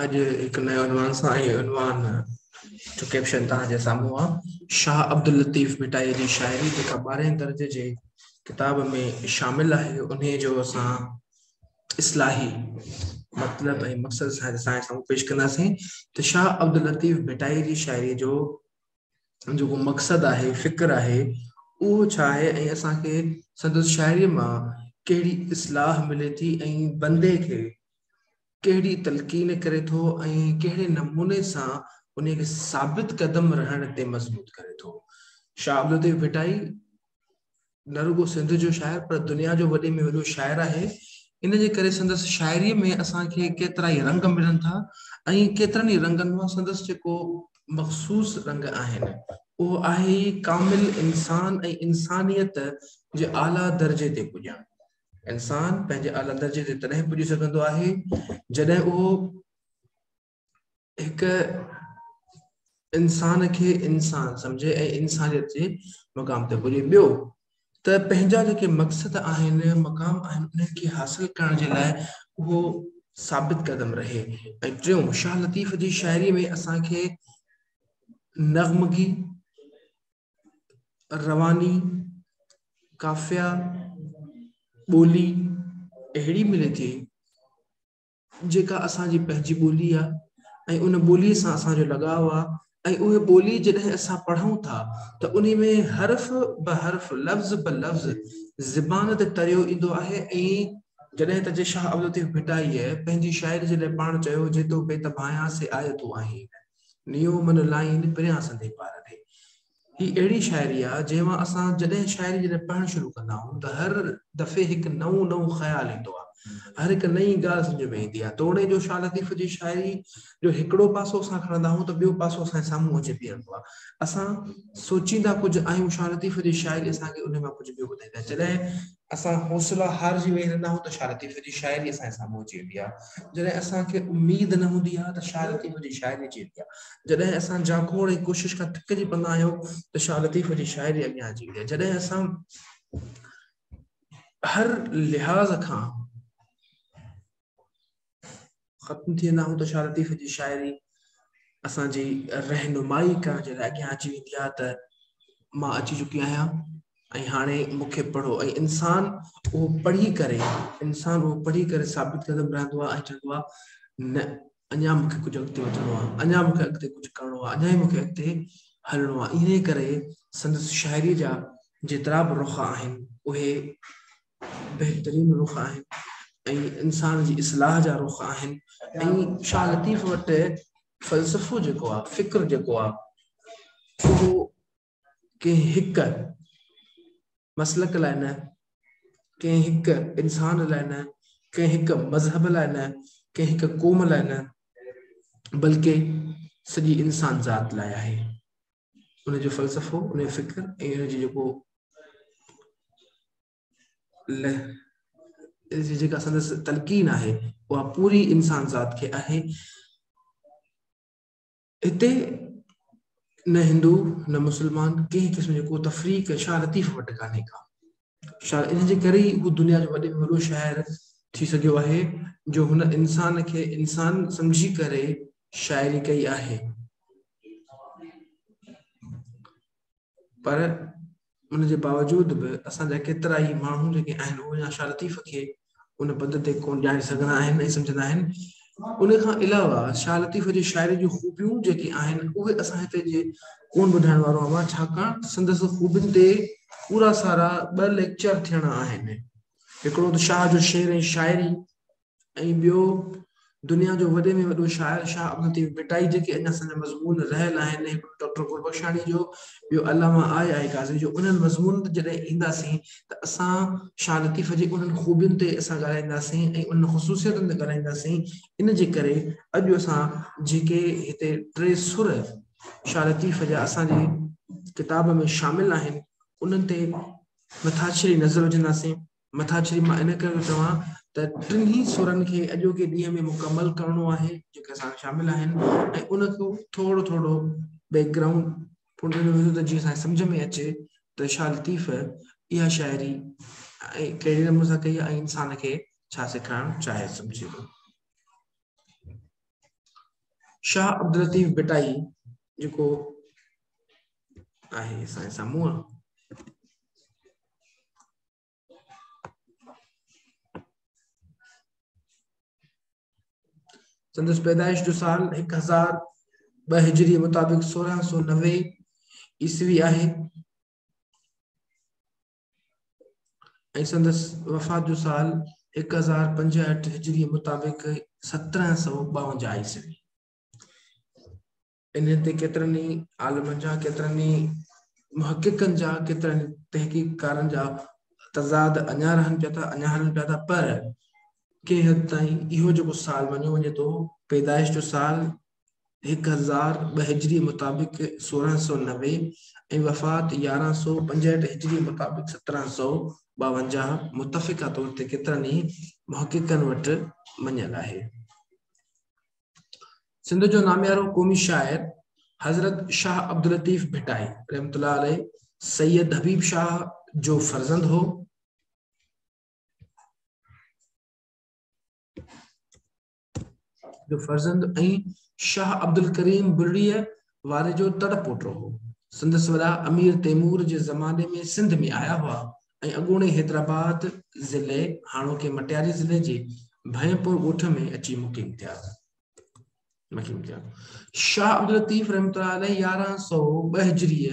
اڄ هڪ نئون عنوان سان اهي عنوان جو ڪيپشن توهان جي سامهون آ شاهه عبداللطيف ڀٽائي جي شاعري جيڪا ٻارهين درجي جي ڪتاب ۾ شامل آهي انهي جو اسان اصلاحي مطلب ۽ مقصد سان اسان جي سامهون پيش ڪنداسين ته شاهه عبداللطيف ڀٽائي جي شاعري جو جيڪو مقصد آهي فڪر آهي اهو ڇا آهي ۽ اسان کي سندس شاعري مان ڪهڙي اصلاح ملي ٿي ۽ بندي کي ڪهڙي تلقين ڪري ٿو ۽ ڪهڙي نموني سان انهيء کي ثابت قدم رهڻ تي مضبوط ڪري ٿو. شاهه عبدالطيف ڀٽائي نه رڳو سنڌ جو شاعر پر دنيا جو وڏي ۾ وڏو شاعر آهي. ان جي ڪري سندس شاعريء ۾ اسان کي ڪيترائي رنگ ملن ٿا ۽ ڪيترن ئي رنگن مان سندس جيڪو مخصوص رنگ آهن اهو آهي ئي ڪامل انسان ۽ انسانيت جي اعليٰ درجي تي پڄڻ. انسان پنهنجي اعليٰ درجي تي تڏهن پڄي سگهندو آهي جڏهن اهو هڪ انسان کي انسان سمجهي ۽ انسانيت جي مقام تي پڄي ٻيو ته پنهنجا جيڪي مقصد آهن مقام آهن انهن کي حاصل ڪرڻ جي لاء اهو ثابت قدم رهي ۽ ٽيون شاهه لطيف جي شاعري ۾ اسان کي نغمگي رواني قافيه ٻولي اهڙي ملي ٿي جيڪا اسان جي پنهنجي ٻولي آ ۽ ان ٻولي سان اسان جو لڳاء آ ۽ اهي ٻولي جڏهن اسان پڙهون ٿا ته انهي ۾ حرف به حرف لفظ به لفظ زبان تي تريو ايندو آهي ۽ جڏهن ته جي شاهه عبدالطيف ڀٽائيء پنهنجي شاعري جي لاء پاڻ چيو جيتو بيت ڀانيان سي آيتون آهين نيو من لائين پريان سندي پار ڏي. هي اهڙي شاعري آ جنهن مان اسان جڏهن شاعري جڏهن پڙهڻ شروع ڪندا آهيون ته هر دفعي هڪ نئون نئون خيال ايندو آ هر هڪ نئين ڳالهه سمجهه ۾ ايندي آ توڻي جو شاهه لطيف جي شاعري جو هڪڙو پاسو اسان کڻندا آهيون ته ٻيو پاسو اسان جي سامهون اچي بيهندو آ اسان سوچيندا ڪجهه آهيون شاهه لطيف جي شاعري اسان کي انهي مان ڪجهه ٻيو ٻڌائيندي آ جڏهن اسان حوصلا هارجي ويهي رهندا آهيون ته شاهه لطيف جي شاعري اسان جي سامهون اچي ويندي آهي. جڏهن اسان کي اميد نه هوندي آهي ته شاهه لطيف جي شاعري اچي ويندي آهي. جڏهن اسان جاکوڙ ۽ ڪوشش کان ٿڪجي پوندا آهيون ته شاهه لطيف جي شاعري اڳيان اچي ويندي آهي. جڏهن اسان هر لحاظ کان ختم ٿي ويندا آهيون ته شاهه لطيف جي شاعري اسان جي رهنمائي ڪرڻ جي لاء اڳيان اچي ويندي آهي ته مان اچي چڪي آهيان ۽ هاڻي مون کي پڙهو ۽ انسان اهو پڙهي ڪري انسان اهو پڙهي ڪري ثابت قدم رهندو آهي ۽ چوندو آهي نه اڃا مون کي ڪجهه اڳتي وڌڻو آهي اڃا مون کي اڳتي ڪجهه ڪرڻو آهي اڃا مون کي اڳتي هلڻو آهي انهي ڪري سندس شاعري جا جيترا به رخ آهن اهي بهترين رخ آهن ۽ انسان جي اصلاح جا رخ آهن ۽ شاهه لطيف وٽ فلسفو جيڪو آهي فڪر جيڪو آهي اهو ڪنهن هڪ مسلڪ لاء نه ڪنهن هڪ انسان لاء نه ڪنهن هڪ مذهب لاء نه ڪنهن هڪ قوم لاء نه بلڪه سڄي انسان ذات لاء آهي ان جو فلسفو ان جو فڪر ۽ ان جو جيڪو جيڪا سندس تلقين آهي اها پوري انسان ذات کي آهي هتي نه هندو نه مسلمان ڪنهن قسم جو ڪو تفريق شاهه لطيف وٽ ڪانهي ڪا شايد ان جي ڪري ئي هو دنيا جو وڏي ۾ وڏو شاعر ٿي سگهيو آهي، جو هن انسان کي انسان سمجهي ڪري شاعري ڪئي آهي. پر ان جي باوجود به اسان جا ڪيترا ئي ماڻهو جيڪي آهن اهي اڃا شاهه لطيف کي ان پنڌ تي ڪونه ڄاڻي سگهندا آهن ۽ سمجهندا آهن. ان کان علاوه شاهه لطيف جي شاعري جون خوبيون جيڪي آهن اهي اسان هتي جي ڪونه ٻڌائڻ وارو آهيان ڇاڪاڻ ته سندس خوبين تي پورا سارا ٻه ليڪچر ٿيڻا آهن. هڪڙو ته شاهه جو شعر ۽ شاعري ۽ ٻيو دنيا جو وڏي ۾ وڏو شاعر شاهه عبدالطيف ڀٽائي جيڪي اڃا سندن مضمون رهيل آهن هڪڙو ڊاڪٽر گلبخشاڻي جو ٻيو علامه آء آء قاضي جو انهن مضمونن تي جڏهن اينداسين ته اسان شاهه لطيف جي انهن خوبين تي اسان ڳالهائينداسين ۽ انهن خصوصيتن تي ڳالهائينداسين ان جي ڪري اڄ اسان جيڪي هتي ٽي سر شاهه لطيف جا اسان جي ڪتاب ۾ شامل آهن انهن تي مٿاڇري نظر وجهنداسين مٿاڇري مان ان ڪري ٿو چوان ته ٽنهي سرن کي اڄوڪي ڏينهن ۾ مڪمل ڪرڻو آهي جيڪي اسان شامل آهن ۽ ان کي ٿورو ٿورو بيڪ گرائونڊ ته جيئن اسان سمجھ ۾ اچي ته شاھ لطيف اها شاعري ڪهڙي نموني سان ڪئي ۽ انسان کي ڇا سيکارڻ چاهي سمجھي ٿو شاھ عبداللطيف بٽائي جيڪو آهي اسان سامهون سندس پيدائش جو سال هڪ هزار ٻه هجري مطابق سورهن سو نوي عيسوي آهي ۽ سندس وفات جو سال هڪ هزار پنجهٺ هجري مطابق سترهن سو ٻاونجاهه عيسوي انهن تي ڪيترن ئي عالمن جا، ڪيترن ئي محققن جا، ڪيترن ئي تحقيقڪارن جا تضاد اڃا رهن پيا ٿا، اڃا هلن پيا ٿا پر ڪنهن حد تائين اهو جيڪو سال مڃيو وڃي ٿو پيدائش جو سال هڪ هزار ٻه هجري مطابق سورهن سؤ نوي ۽ وفات يارهن سؤ پنجهٺ هجري مطابق سترهن سؤ ٻاونجاهه متفقه طور تي ڪيترن ئي محققن وٽ مڃيل آهي. سنڌ جو ناميارو قومي شاعر حضرت شاهه عبداللطيف ڀٽائي رحمت الله عليه سيد حبيب شاهه جو فرزند هو جو فرزند ۽ شاهه عبدالڪريم بلڙيء واري جو تڙ پوٽو هو. سندس وڏا امير تيمور جي زماني ۾ سنڌ ۾ آيا هئا ۽ اڳوڻي حيدرآباد ضلعي، هاڻوڪي مٽياري ضلعي، جي ڀين پور ڳوٺ ۾ اچي مقيم ٿيا. شاهه عبداللطيف رحمة الله عليه يارهن سؤ ٻه هجريء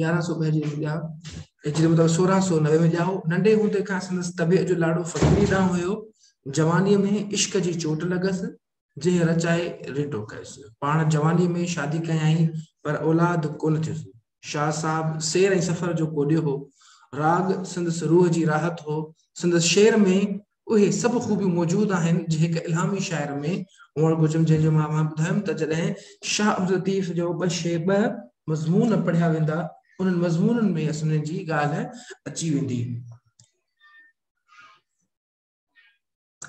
يارهن سؤ ٻه جي ڄام هجري مطلب سورهن سؤ نوي ۾ ڄائو ننڍي هوندي کان سندس طبيعت جو لاڙو فقيري ڏانهن هيو جوانيء ۾ عشق جي چوٽ لڳس جنهن رچائي ريٽو ڪيس. پاڻ جوانيء ۾ شادي ڪيائين، پر اولاد ڪونه ٿيس. شاهه صاحب سير ۽ سفر جو ڪوڏيو هو. راڳ سندس روح جي راحت هو. سندس شعر ۾ اهي سڀ خوبيون موجود آهن، جي هڪ الهامي شاعر ۾ هئڻ گهرجن، جنهن جو مان اوهان ٻڌايم ته جڏهن شاهه عبداللطيف جو ٻه شعر ٻه مضمون پڙهيا ويندا، انهن مضمونن ۾ اسنهن جي ڳالهه اچي ويندي.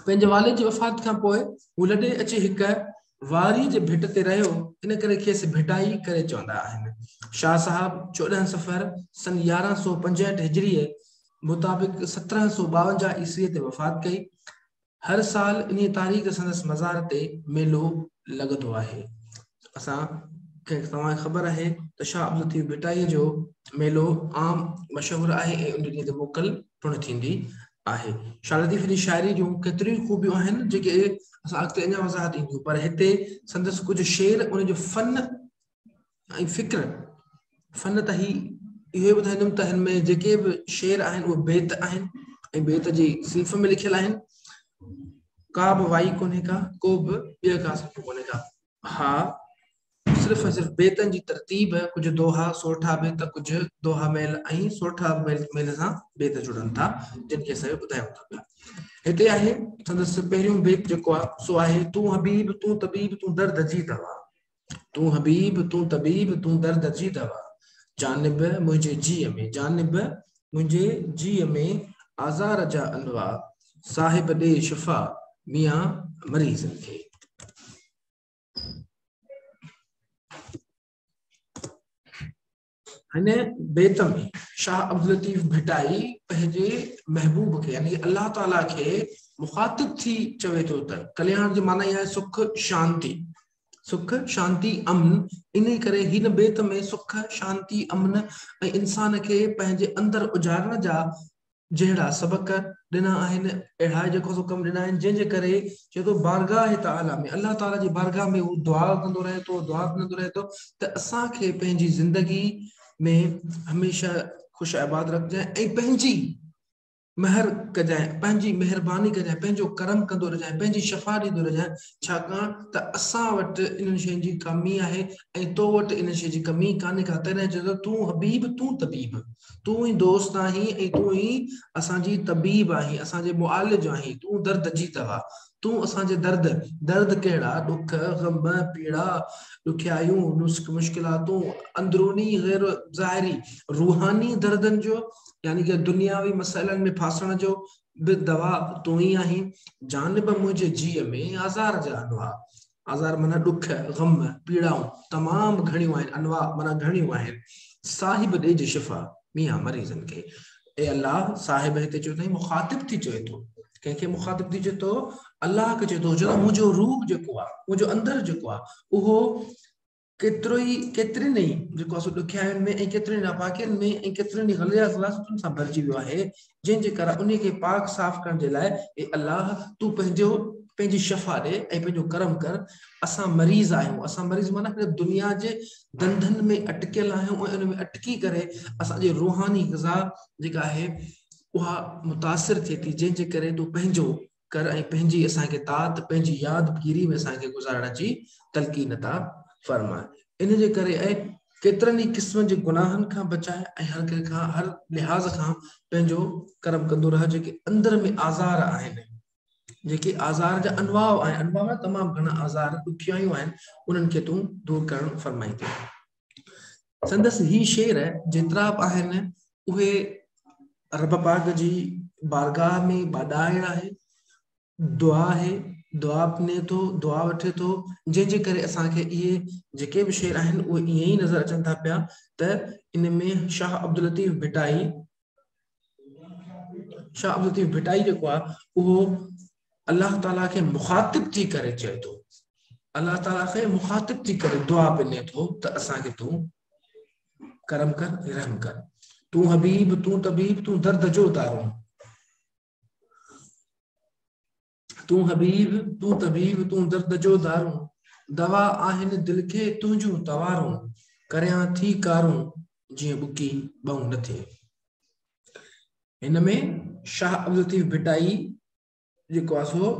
پنهنجي والد جي وفات کان پوء هو لڏي اچي هڪ واري جي ڀٽ تي رهيو، ان ڪري کيس ڀٽائي ڪري چوندا آهن. شاهه صاحب چوڏهن صفر سن يارهن سؤ پنجهٺ هجريء مطابق سترهن سؤ ٻاونجاهه عيسويء تي وفات ڪئي. هر سال انهيء تاريخ تي سندس مزار تي ميلو لڳندو آهي. اسان کي توهان کي خبر آهي ته شاهه عبدالطيف ڀٽائيء جو ميلو عام مشهور آهي ۽ ان ڏينهن تي موڪل پڻ ٿيندي آهي. شاهه لطيف جي شاعري جون ڪيتريون ئي خوبيون آهن، جيڪي اسان اڳتي اڃا وضاحت اينديون، پر هتي سندس ڪجهه شعر ان جو فن ۽ فڪر فن ته هي اهو ٻڌائيندم ته هن ۾ جيڪي به شعر آهن اهي بيت آهن ۽ بيت جي صنف ۾ لکيل آهن ڪا به وائي ڪونهي ڪا ڪو به ٻيو ڪا صنف ڪونهي ڪا ها صرف ۽ صرف بيتن جي ترتيب ڪجهه دوها سورٺا بيت ڪجهه دوها ميل ۽ سورٺا ميل سان بيت جڙن ٿا جن کي اسان ٻڌايون ٿا پيا هتي آهي سندس پهريون بيت جيڪو آهي سو آهي تون حبيب تون طبيب تون درد جي دوا تون حبيب تون طبيب تون درد جي دوا جانب منهنجي جي ۾ جانب منهنجي جيء ۾ آزار جا انواع، صاحب ڏي شفا ميان مريضن کي. هن بيت ۾ شاهه عبداللطيف ڀٽائي پنهنجي محبوب کي يعني الله تعاليٰ کي مخاطب ٿي چوي ٿو ته ڪلياڻ جي معنيٰ اها آهي سک شانتي سک، شانتي، امن، انهي ڪري هن بيت ۾ سک، شانتي، امن ۽ انسان کي پنهنجي اندر اجارڻ جا جهڙا سبق ڏنا آهن، اهڙا جيڪو سو ڪم ڏنا آهن، جنهن جي ڪري چئي ٿو بارگاهه تعاليٰ ۾ الله تعاليٰ جي بارگاهه ۾ هو دعا ڪندو رهي ٿو، دعا ڪندو رهي ٿو ته اسان کي پنهنجي زندگي ۾ هميشه خوش آباد رکجانء ۽ پنهنجي مهر ڪجانء، پنهنجي مهرباني ڪجانء، پنهنجو ڪرم ڪندو رهجانء، پنهنجي شفا ڏيندو رهجانء، ڇاڪاڻ ته اسان وٽ انهن شين جي ڪامي آهي ۽ تو وٽ انهن شين جي ڪمي ڪانهي ڪا، تڏهن چيو ته تون حبيب، تون طبيب، تون ئي دوست آهين ۽ تون ئي اسان جي طبيب آهين، اسان جي معالج آهين، تون درد جي دوا. تون اسان جي درد، درد ڪهڙا، ڏک، غم، پيڙا، ڏکيائيون، نسخ، مشڪلاتون، اندروني غير ظاهري روحاني دردن جو يعني ڪه دنياوي مسئلن ۾ ڦاسڻ جو به دوا تون ئي آهين، جانب منهنجي جيء ۾ آزار جا انواع، آزار معنيٰ ڏک، غم، پيڙائون، تمام گهڻيون آهن، انواع معنيٰ گهڻيون آهن، صاحب ڏج شفا، ميان مريضن کي. اي الله! صاحب هتي چيو اٿئي مخاطب ٿي چوي ٿو. ڪنهن کي مخاطب ٿي چوي ٿو؟ الله کي چوي ٿو، جو منهنجو روح جيڪو آهي، منهنجو اندر جيڪو آهي، اهو ڪيترو ئي ڪيترين ئي جيڪو اسو ڏکيائين ۾ ۽ ڪيترين ناپاڪين ۾ ۽ ڪيترين ئي غليظ غلاظتن سان ڀرجي ويو آهي، جنهن جي ڪرڻ انهي کي پاڪ صاف ڪرڻ جي لاء اي الله تون پنهنجو پنهنجي شفا ڏي ۽ پنهنجو ڪرم ڪر اسان مريض آهيون اسان مريض معنيٰ هن دنيا جي ڌنڌن ۾ اٽڪيل آهيون ۽ ان ۾ اٽڪي ڪري اسان جي روحاني غذا جيڪا آهي اها متاثر ٿئي ٿي جنهن جي ڪري تون پنهنجو ڪر ۽ پنهنجي اسان کي تات پنهنجي ياد گيري ۾ اسان کي گذارڻ جي تلقين عطا فرماء ان جي ڪري اي ڪيترن ئي قسمن جي گناهن کان بچاء ۽ هر ڪنهن کان هر لحاظ کان پنهنجو ڪرم ڪندو رهه جيڪي اندر ۾ آزار آهن جيڪي آزار جا انواع آهن انواع تمام گهڻا آزار ڏکيائيون آهن انهن کي تون دور ڪرڻ فرمائيندين سندس هي شعر جيترا به آهن اهي رب پاڪ جي بارگاهه ۾ ٻاڏائڻ آهي، دعا آهي، دعا پني ٿو، دعا وٺي ٿو، جنهن جي ڪري اسان کي اهي جيڪي به شعر آهن اهي ائين ئي نظر اچن ٿا پيا ته ان ۾ شاهه عبداللطيف ڀٽائي شاھ عبدالطيف ڀٽائي جيڪو آ اهو الله تعالي کي مخاطب ٿي ڪري چئي ٿو الله تعالي کي مخاطب ٿي ڪري دعا پني ٿو ته اسان کي تون ڪرم ڪر رحم ڪر تون حبيب تون طبيب تون درد جو دارون تون حبيب، تون طبيب، تون درد جو دارون، دوا آهن دل کي تنهنجون توارون، ڪريان ٿي ڪارون جيئن ٻڪي ٻئون نه ٿئي. هن ۾ شاهه عبدالطيف ڀٽائي جيڪو آهي سو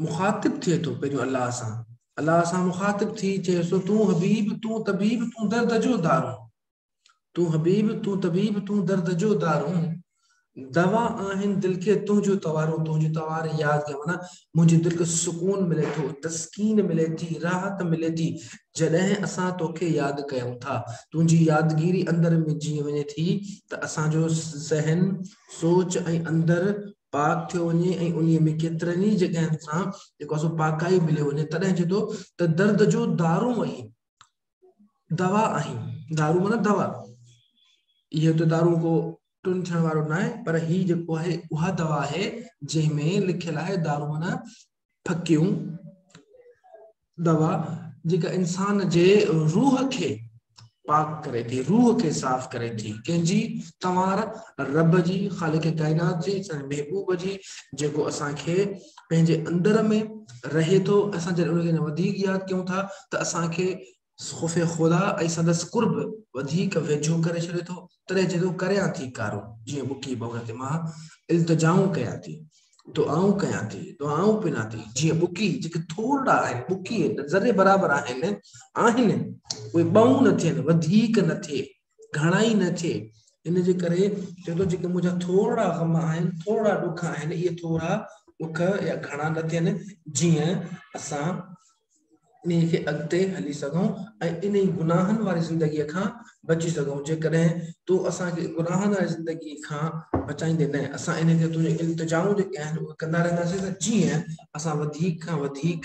مخاطب ٿئي ٿو پنهنجو الله سان الله سان مخاطب ٿي چيس ٿو تون حبيب تون طبيب تون درد جو دارون تون حبيب تون طبيب تون درد جو دارون دوا آهين دل کي تنهنجو توارون تنهنجي توار ياد ڪيا معنيٰ منهنجي دل کي سڪون ملي ٿو تسڪين ملي ٿي راحت ملي ٿي جڏهن اسان توکي ياد ڪيون ٿا تنهنجي يادگيري اندر ۾ جيئي وڃي ٿي ته اسان جو ذهن سوچ ۽ اندر پاڪ ٿيو وڃي ۽ انهي ۾ ڪيترن ئي جڳهن سان جيڪو اسو پاڪائي ملي وڃي تڏهن چئي ٿو ته درد جو دارون آهين دوا آهن دارو مطلب دوا اهو ته دارو ڪو ٽن ٿيڻ وارو نه آهي پر هي جيڪو آهي اها دوا آهي جنهن ۾ لکيل آهي دارو معنی ڦڪيون دوا جيڪا انسان جي روح کي پاڪ ڪري ٿي روح کي صاف ڪري ٿي ڪنهن جي توهان رب جي خالق ڪائنات جي محبوب جي جيڪو اسان کي پنهنجي اندر ۾ رهي ٿو اسان جڏهن ان کي وڌيڪ ياد ڪيون ٿا ته اسان کي خوف خدا ۽ سندس قرب وڌيڪ ويجهو ڪري ڇڏي ٿو تڏهن چئي ٿو ڪريان ٿي ڪارو جيئن ٻڪي ڀور تي مان التجائون ڪيان ٿي دعائون ڪيان ٿي دعائون پنا ٿي جيئن ٻڪي جيڪي ٿورڙا آهن ٻڪي ذري برابر آهن آهن اهي ٻئون نه ٿين وڌيڪ نه ٿئي گهڻائي نه ٿئي ان جي ڪري چئي ٿو جيڪي منهنجا ٿورڙا غم آهن ٿورڙا ڏک آهن اهي ٿورڙا ڏک يا گهڻا نه ٿين جيئن اسان انهي کي اڳتي هلي سگهون ۽ انهي گناهن واري زندگي کان بچي سگهون جيڪڏهن تون اسان کي گناهن واري زندگي کان بچائيندي نه اسان انهي کي تنهنجي التجائون جيڪي آهن اهي ڪندا رهنداسين ته جيئن اسان وڌيڪ کان وڌيڪ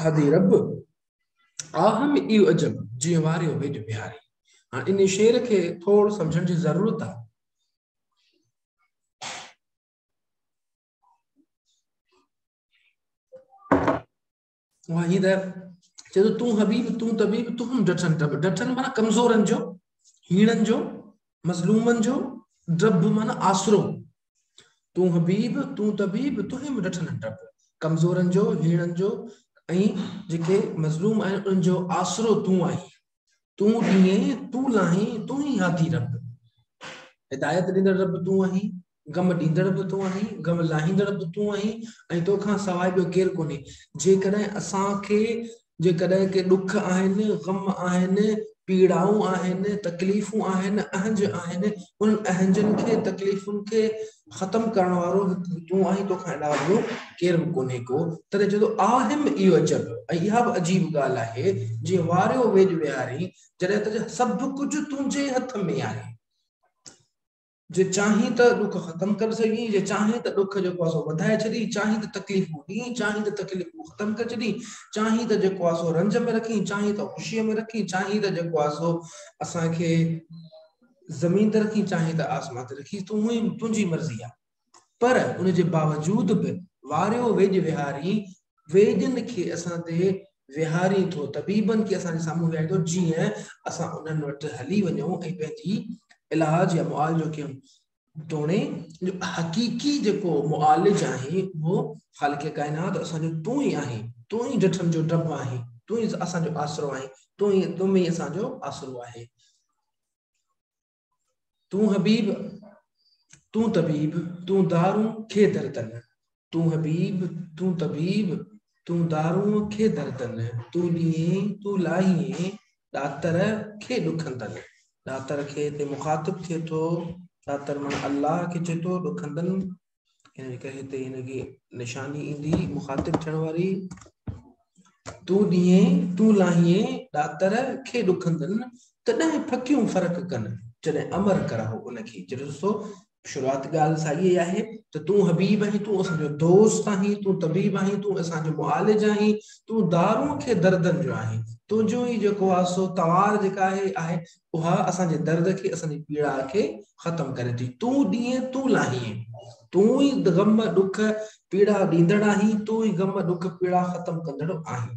هادي رب! آه ۾ ايو عجب، جيئن واريو ويڄ بهاري. هاڻ انهي شعر کي ٿور سمجهڻ جي ضرورت آهي. وحيده چئي ٿو تون حبيب تون طبيب تون هم ڊٺن ڊب ڊٺن مانا ڪمزورن جو هيڻن جو مظلومن جو ڊب مانا آسرو تون حبيب تون طبيب تنهنجي مون ڏٺل آهن ڊپ ڪمزورن جو هيڻن جو ۽ جيڪي مظلوم آهن انهن جو آسرو تون آهين تون ڏينهين تون لاهين تون ئي هادي رب هدايت ڏيندڙ رب تون آهين غم ڏيندڙ به تون آهين غم لاهيندڙ به تون آهين ۽ توکان سواء ٻيو ڪير ڪونهي جيڪڏهن اسان کي جيڪڏهن ڪي ڏک آهن، غم آهن، پيڙائون آهن، تڪليفون آهن، اهنج آهن، انهن اهنجن کي، تڪليفن کي ختم ڪرڻ وارو هڪ تون آهين، توکان علاوه ٻيو ڪير به ڪونهي ڪو، تڏهن چئي ٿو، آهم اي عجب، ۽ اها به عجيب ڳالهه آهي، جي واريو ويڄ ويهارين، جڏهن ته سڀ ڪجهه تنهنجي ئي هٿ ۾ آهي. جي چاهين ته ڏک ختم ڪري سگهين، جي چاهين ته ڏک جيڪو آهي سو وڌائي ڇڏين، چاهين ته تڪليفون ڏين، چاهين ته تڪليفون ختم ڪري ڇڏين، چاهين ته جيڪو آهي سو رنج ۾ رکين، چاهين ته خوشيء ۾ رکين، چاهين ته جيڪو آهي سو اسان کي زمين تي رکين، چاهين ته آسمان تي رکين، تون ئي تنهنجي مرضي آهي. پر ان جي باوجود به واريو ويڄ وهارين ويدن کي اسان تي ويهارين ٿو، طبيبن کي اسان جي سامهون ويهارين ٿو، جيئن اسان انهن وٽ هلي وڃون ۽ پنهنجي علاج يا معالجو ڪيون. توڻي جو حقيقي جيڪو معالج آهين، اهو خالق ڪائنات، اسان جو تون ئي آهين، تون ئي ڊٺن جو ڊڀ آهين، تون ئي اسان جو آسرو آهين، تون ئي، تو ۾ ئي اسان جو آسرو آهي. تون حبيب تون طبيب تون دارون کي دردن تون حبيب تون طبيب تون دارون کي دردن تون ڏيئين تون لاهين ڏاتر کي ڏکندن ڏاتر کي تي مخاطب ٿئي ٿو ڏاتر من الله کي چئي ٿو ڏکندن يعني ڪنهن هتي هن کي نشاني ايندي مخاطب ٿيڻ واري تون ڏينهين تون لاهين ڏاتر کي ڏکندن تڏهن ڦڪيون فرق ڪن جڏهن امر ڪراهو ان کي جڏهن ڏسو شروعات ڳالهه سائي ئي آهي ته تون حبيب آهين تون اسان جو دوست آهين تون طبيب آهين تون اسان جو معالج آهين تون دارون کي دردن جو آهين تنهنجو ئي جيڪو آسو توار جيڪا آهي آهي اها اسان جي درد کي اسان جي پيڙاء کي ختم ڪري ٿي تون ڏيئين تون لاهين تون ئي غم ڏک پيڙا ڏيندڙ آهين تون ئي غم ڏک پيڙا ختم ڪندڙ آهين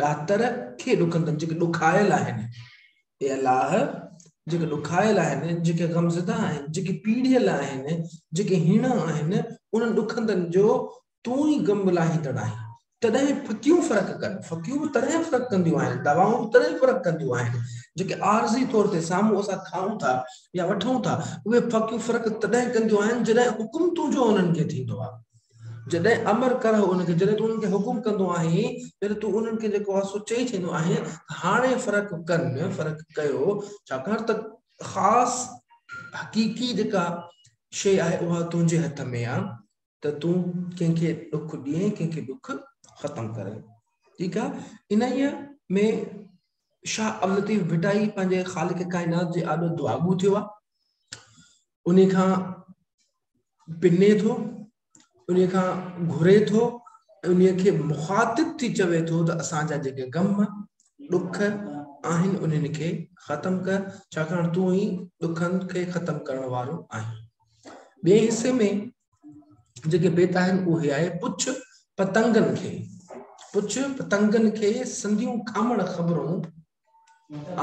ڏاتر کي ڏکندن جيڪي ڏکايل آهن اي الله جيڪي ڏکايل آهن جيڪي غمزده آهن جيڪي پيڙيل آهن جيڪي هيڻا آهن انهن ڏکندن جو تون ئي غم به لاهيندڙ آهين. تڏهن ڦڪيون فرق ڪن. ڦڪيون به تڏهن فرق ڪنديون آهن، دوائون به تڏهن فرق ڪنديون آهن، جيڪي عارضي طور تي سامهون اسان کائون ٿا يا وٺون ٿا، اهي ڦڪيون فرق تڏهن ڪنديون آهن، جڏهن حڪم تنهنجو انهن کي ٿيندو آهي. جڏهن امر ڪره انهن کي، جڏهن تون انهن کي حڪم ڪندو آهين، جڏهن تون انهن کي جيڪو آهي سو چئي ڇڏيندو آهين ته هاڻي فرق ڪن، فرق ڪيو، ڇاڪاڻ ته خاص، حقيقي جيڪا شيء آهي اها تنهنجي هٿ ۾ آهي. ته تون ڪنهن کي ڏک ڏئين ڪنهن کي ڏک ختم ڪرين ٺيڪ آ انهيء ۾ شاهه عبداللطيف ڀٽائي پنهنجي خالق ڪائنات جي آڏو دعاگو ٿيو آ انهي کان پني ٿو انهي کان گهري ٿو انهي کي مخاطب ٿي چوي ٿو ته اسان جا جيڪي غم ڏک آهن انهن کي ختم ڪر ڇاڪاڻ تون ئي ڏکن کي ختم ڪرڻ وارو آهين ٻئي حصي ۾ جيڪي بيت آهن اهي آهي پڇ پتنگن کي پڇ پتنگن کي سنديون کامڙ خبرون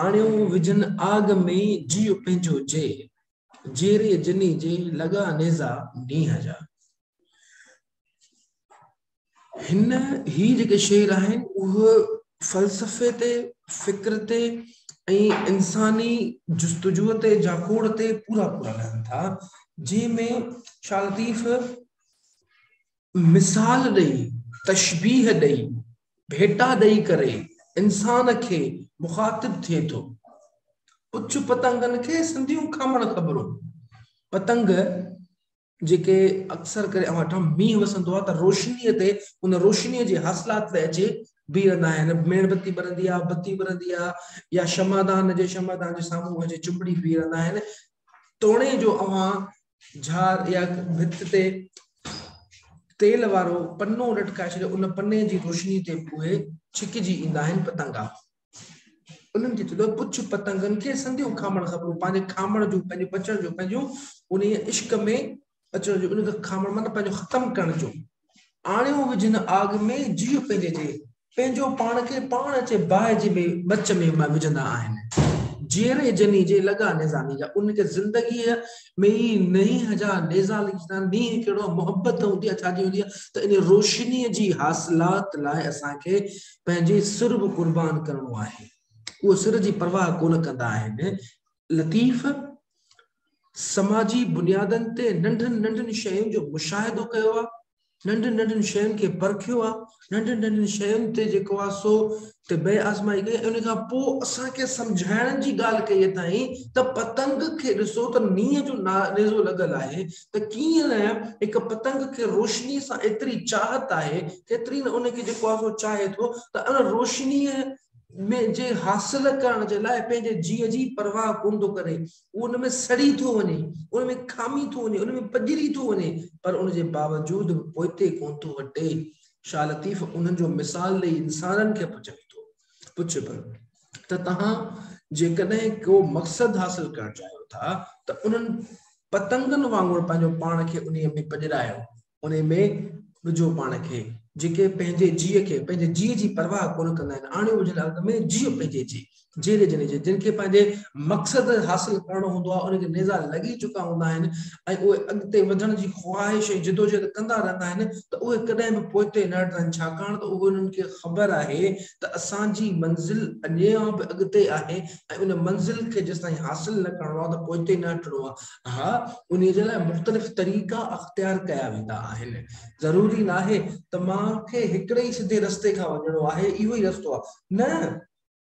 آڻيو وجن آگ ۾ جي پنهنجو جي جيري جني جي لڳا نيزا نينهن جا هن هي جيڪي شعر آهن اهي فلسفي تي فڪر تي ۽ انساني جستجو تي جاکوڙ تي پورا پورا لهن ٿا جنهن ۾ شاهه لطيف مثال ڏئي تشبيح ڏئي ڀيٽا ڏئي ڪري انسان کي مخاطب ٿئي ٿو پڇ پتنگن کي سنڌيون کامڻ خبرون پتنگ جيڪي اڪثر ڪري اوهان ڏٺا مينهن وسندو آهي ته روشنيء تي ان روشنيء جي حاصلات تي اچي بيهندا آهن. ميڻ بتي ٻرندي آهي، بتي ٻرندي آهي يا شمعدان جي شمعدان جي سامهون اچي چنبڙي بيهي رهندا آهن. توڻي جو اوهان جھار يا ڀت تي تيل وارو پنو لٽڪائي ڇڏيو، ان پني جي روشنيء تي به اهي ڇڪجي ايندا آهن پتنگا. انهن کي چيو پڇ پتنگن کي سنديون کامڻ خبرون پنهنجي کامڻ جون پنهنجي بچڻ جون پنهنجون ان عشق ۾ اچڻ جو ان کي کامڻ مطلب پنهنجو ختم ڪرڻ جو آڻيو وجھن آگ ۾ جيء پنهنجي جي پنهنجو پاڻ کي پاڻ اچي باهه جي ۾ بچ ۾ وجھندا آهن جيئري جني جي لڳا نظامي جا ان کي زندگي ۾ ئي نئين هجا نيزا لکندا نينهن ڪهڙو محبت هوندي اڇا جي هوندي ته ان روشني جي حاصلات لاء اسان کي پنهنجي سر به قربان ڪرڻو آهي. اهي سر جي پرواهه ڪونه ڪندا آهن. لطيف سماجي بنيادن تي ننڍن ننڍن شين جو مشاهدو ڪيو آهي. ننڍن ننڍن شين کي پرکيو آهي. ننڍن ننڍن شين تي جيڪو آهي سو تي بي آزمائي ڪئي ۽ ان کان پوء اسان کي سمجهائڻ جي ڳالهه ڪئي اٿائين ته پتنگ کي ڏسو ته نينهن جو نيزو لڳل آهي ته ڪيئن هڪ پتنگ کي روشنيء سان ايتري چاهت آهي، ڪيتري نه ان کي جيڪو آهي سو چاهي ٿو ته ان روشنيء ۾ جي حاصل ڪرڻ جي لاء پنهنجي جيء جي پرواهه ڪونه ٿو ڪري، هو ان ۾ سڙي ٿو وڃي، ان ۾ کامي ٿو وڃي، ان ۾ پڄري ٿو وڃي، پر ان جي باوجود به پوئتي ڪونه ٿو هٽي. شاهه لطيف انهن جو مثال ڏئي انسانن کي به چوي ٿو. پڇي پيو ته توهان جيڪڏهن ڪو مقصد حاصل ڪرڻ چاهيو ٿا ته انهن پتنگن وانگر پنهنجو پاڻ کي انهي ۾ پڄرايو انهي ۾ وجهو پاڻ کي جيڪي پنهنجي جيء کي پنهنجي جيء جي پرواهه ڪونه ڪندا آهن آڻيو وجهل ارض ۾ جيء پنهنجي جي جيري جن جي جن کي پنهنجي مقصد حاصل ڪرڻو هوندو آهي ان کي نيزا لڳي چڪا هوندا آهن ۽ اهي اڳتي وڌڻ جي خواهش ۽ جدوجهد ڪندا رهندا آهن ته اهي ڪڏهن به پوئتي نه هٽندن ڇاڪاڻ ته اهو انهن کي خبر آهي ته اسان جي منزل اڃان به اڳتي آهي ۽ ان منزل کي جيستائين حاصل نه ڪرڻو آهي ته پوئتي نه هٽڻو آهي انهي جي لاء مختلف طريقا اختيار ڪيا ويندا آهن ضروري ناهي ته مان کي هڪڙي ئي سڌي رستي کان وڃڻو آهي اهو ئي رستو آهي نه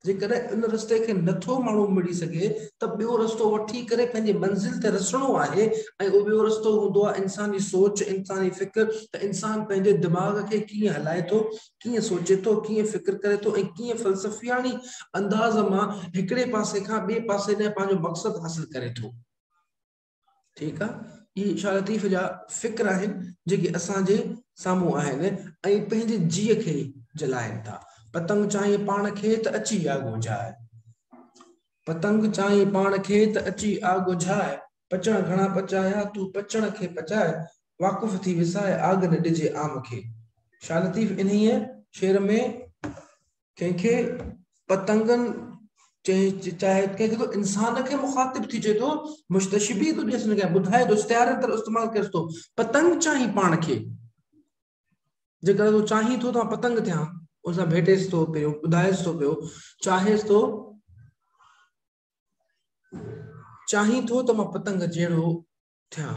جيڪڏهن ان رستي کي نه ٿو ماڻهو مڙي سگهي ته ٻيو رستو وٺي ڪري پنهنجي منزل تي رسڻو آهي ۽ اهو ٻيو رستو هوندو آهي انساني سوچ، انساني فڪر ته انسان پنهنجي دماغ کي ڪيئن هلائي ٿو، ڪيئن سوچي ٿو، ڪيئن فڪر ڪري ٿو ۽ ڪيئن فلسفياڻي انداز مان هڪڙي پاسي کان ٻئي پاسي ڏانهن پنهنجو مقصد حاصل ڪري ٿو. ٺيڪ آ اهي شاهه لطيف جا فڪر آهن جيڪي اسان جي سامهون آهن ۽ پنهنجي جيء کي جلائين ٿا پتنگ چاهين پاڻ کي ته اچي آگ وجهاء پتنگ چاهين پاڻ کي ته اچي آگ وجهاء پچڻ گهڻا پچايا تون پچڻ کي پچاء واقف ٿي وساء آگ نه ڏجي عام کي شاهه لطيف انهيء شعر ۾ ڪنهن کي پتنگن چئي چاهي ڪنهن کي ٿو انسان کي مخاطب ٿي چئي ٿو مشتشبي ٿو ڏيس نه ٻڌائي ٿو استعاري طرح استعمال ڪريس ٿو پتنگ چاهي پاڻ کي جيڪڏهن تون چاهين ٿو ته پتنگ ٿيان ان سان ڀيٽيس ٿو پيو ٻڌائيس ٿو پيو چاهيس ٿو چاهين ٿو ته مان پتنگ جهڙو ٿيا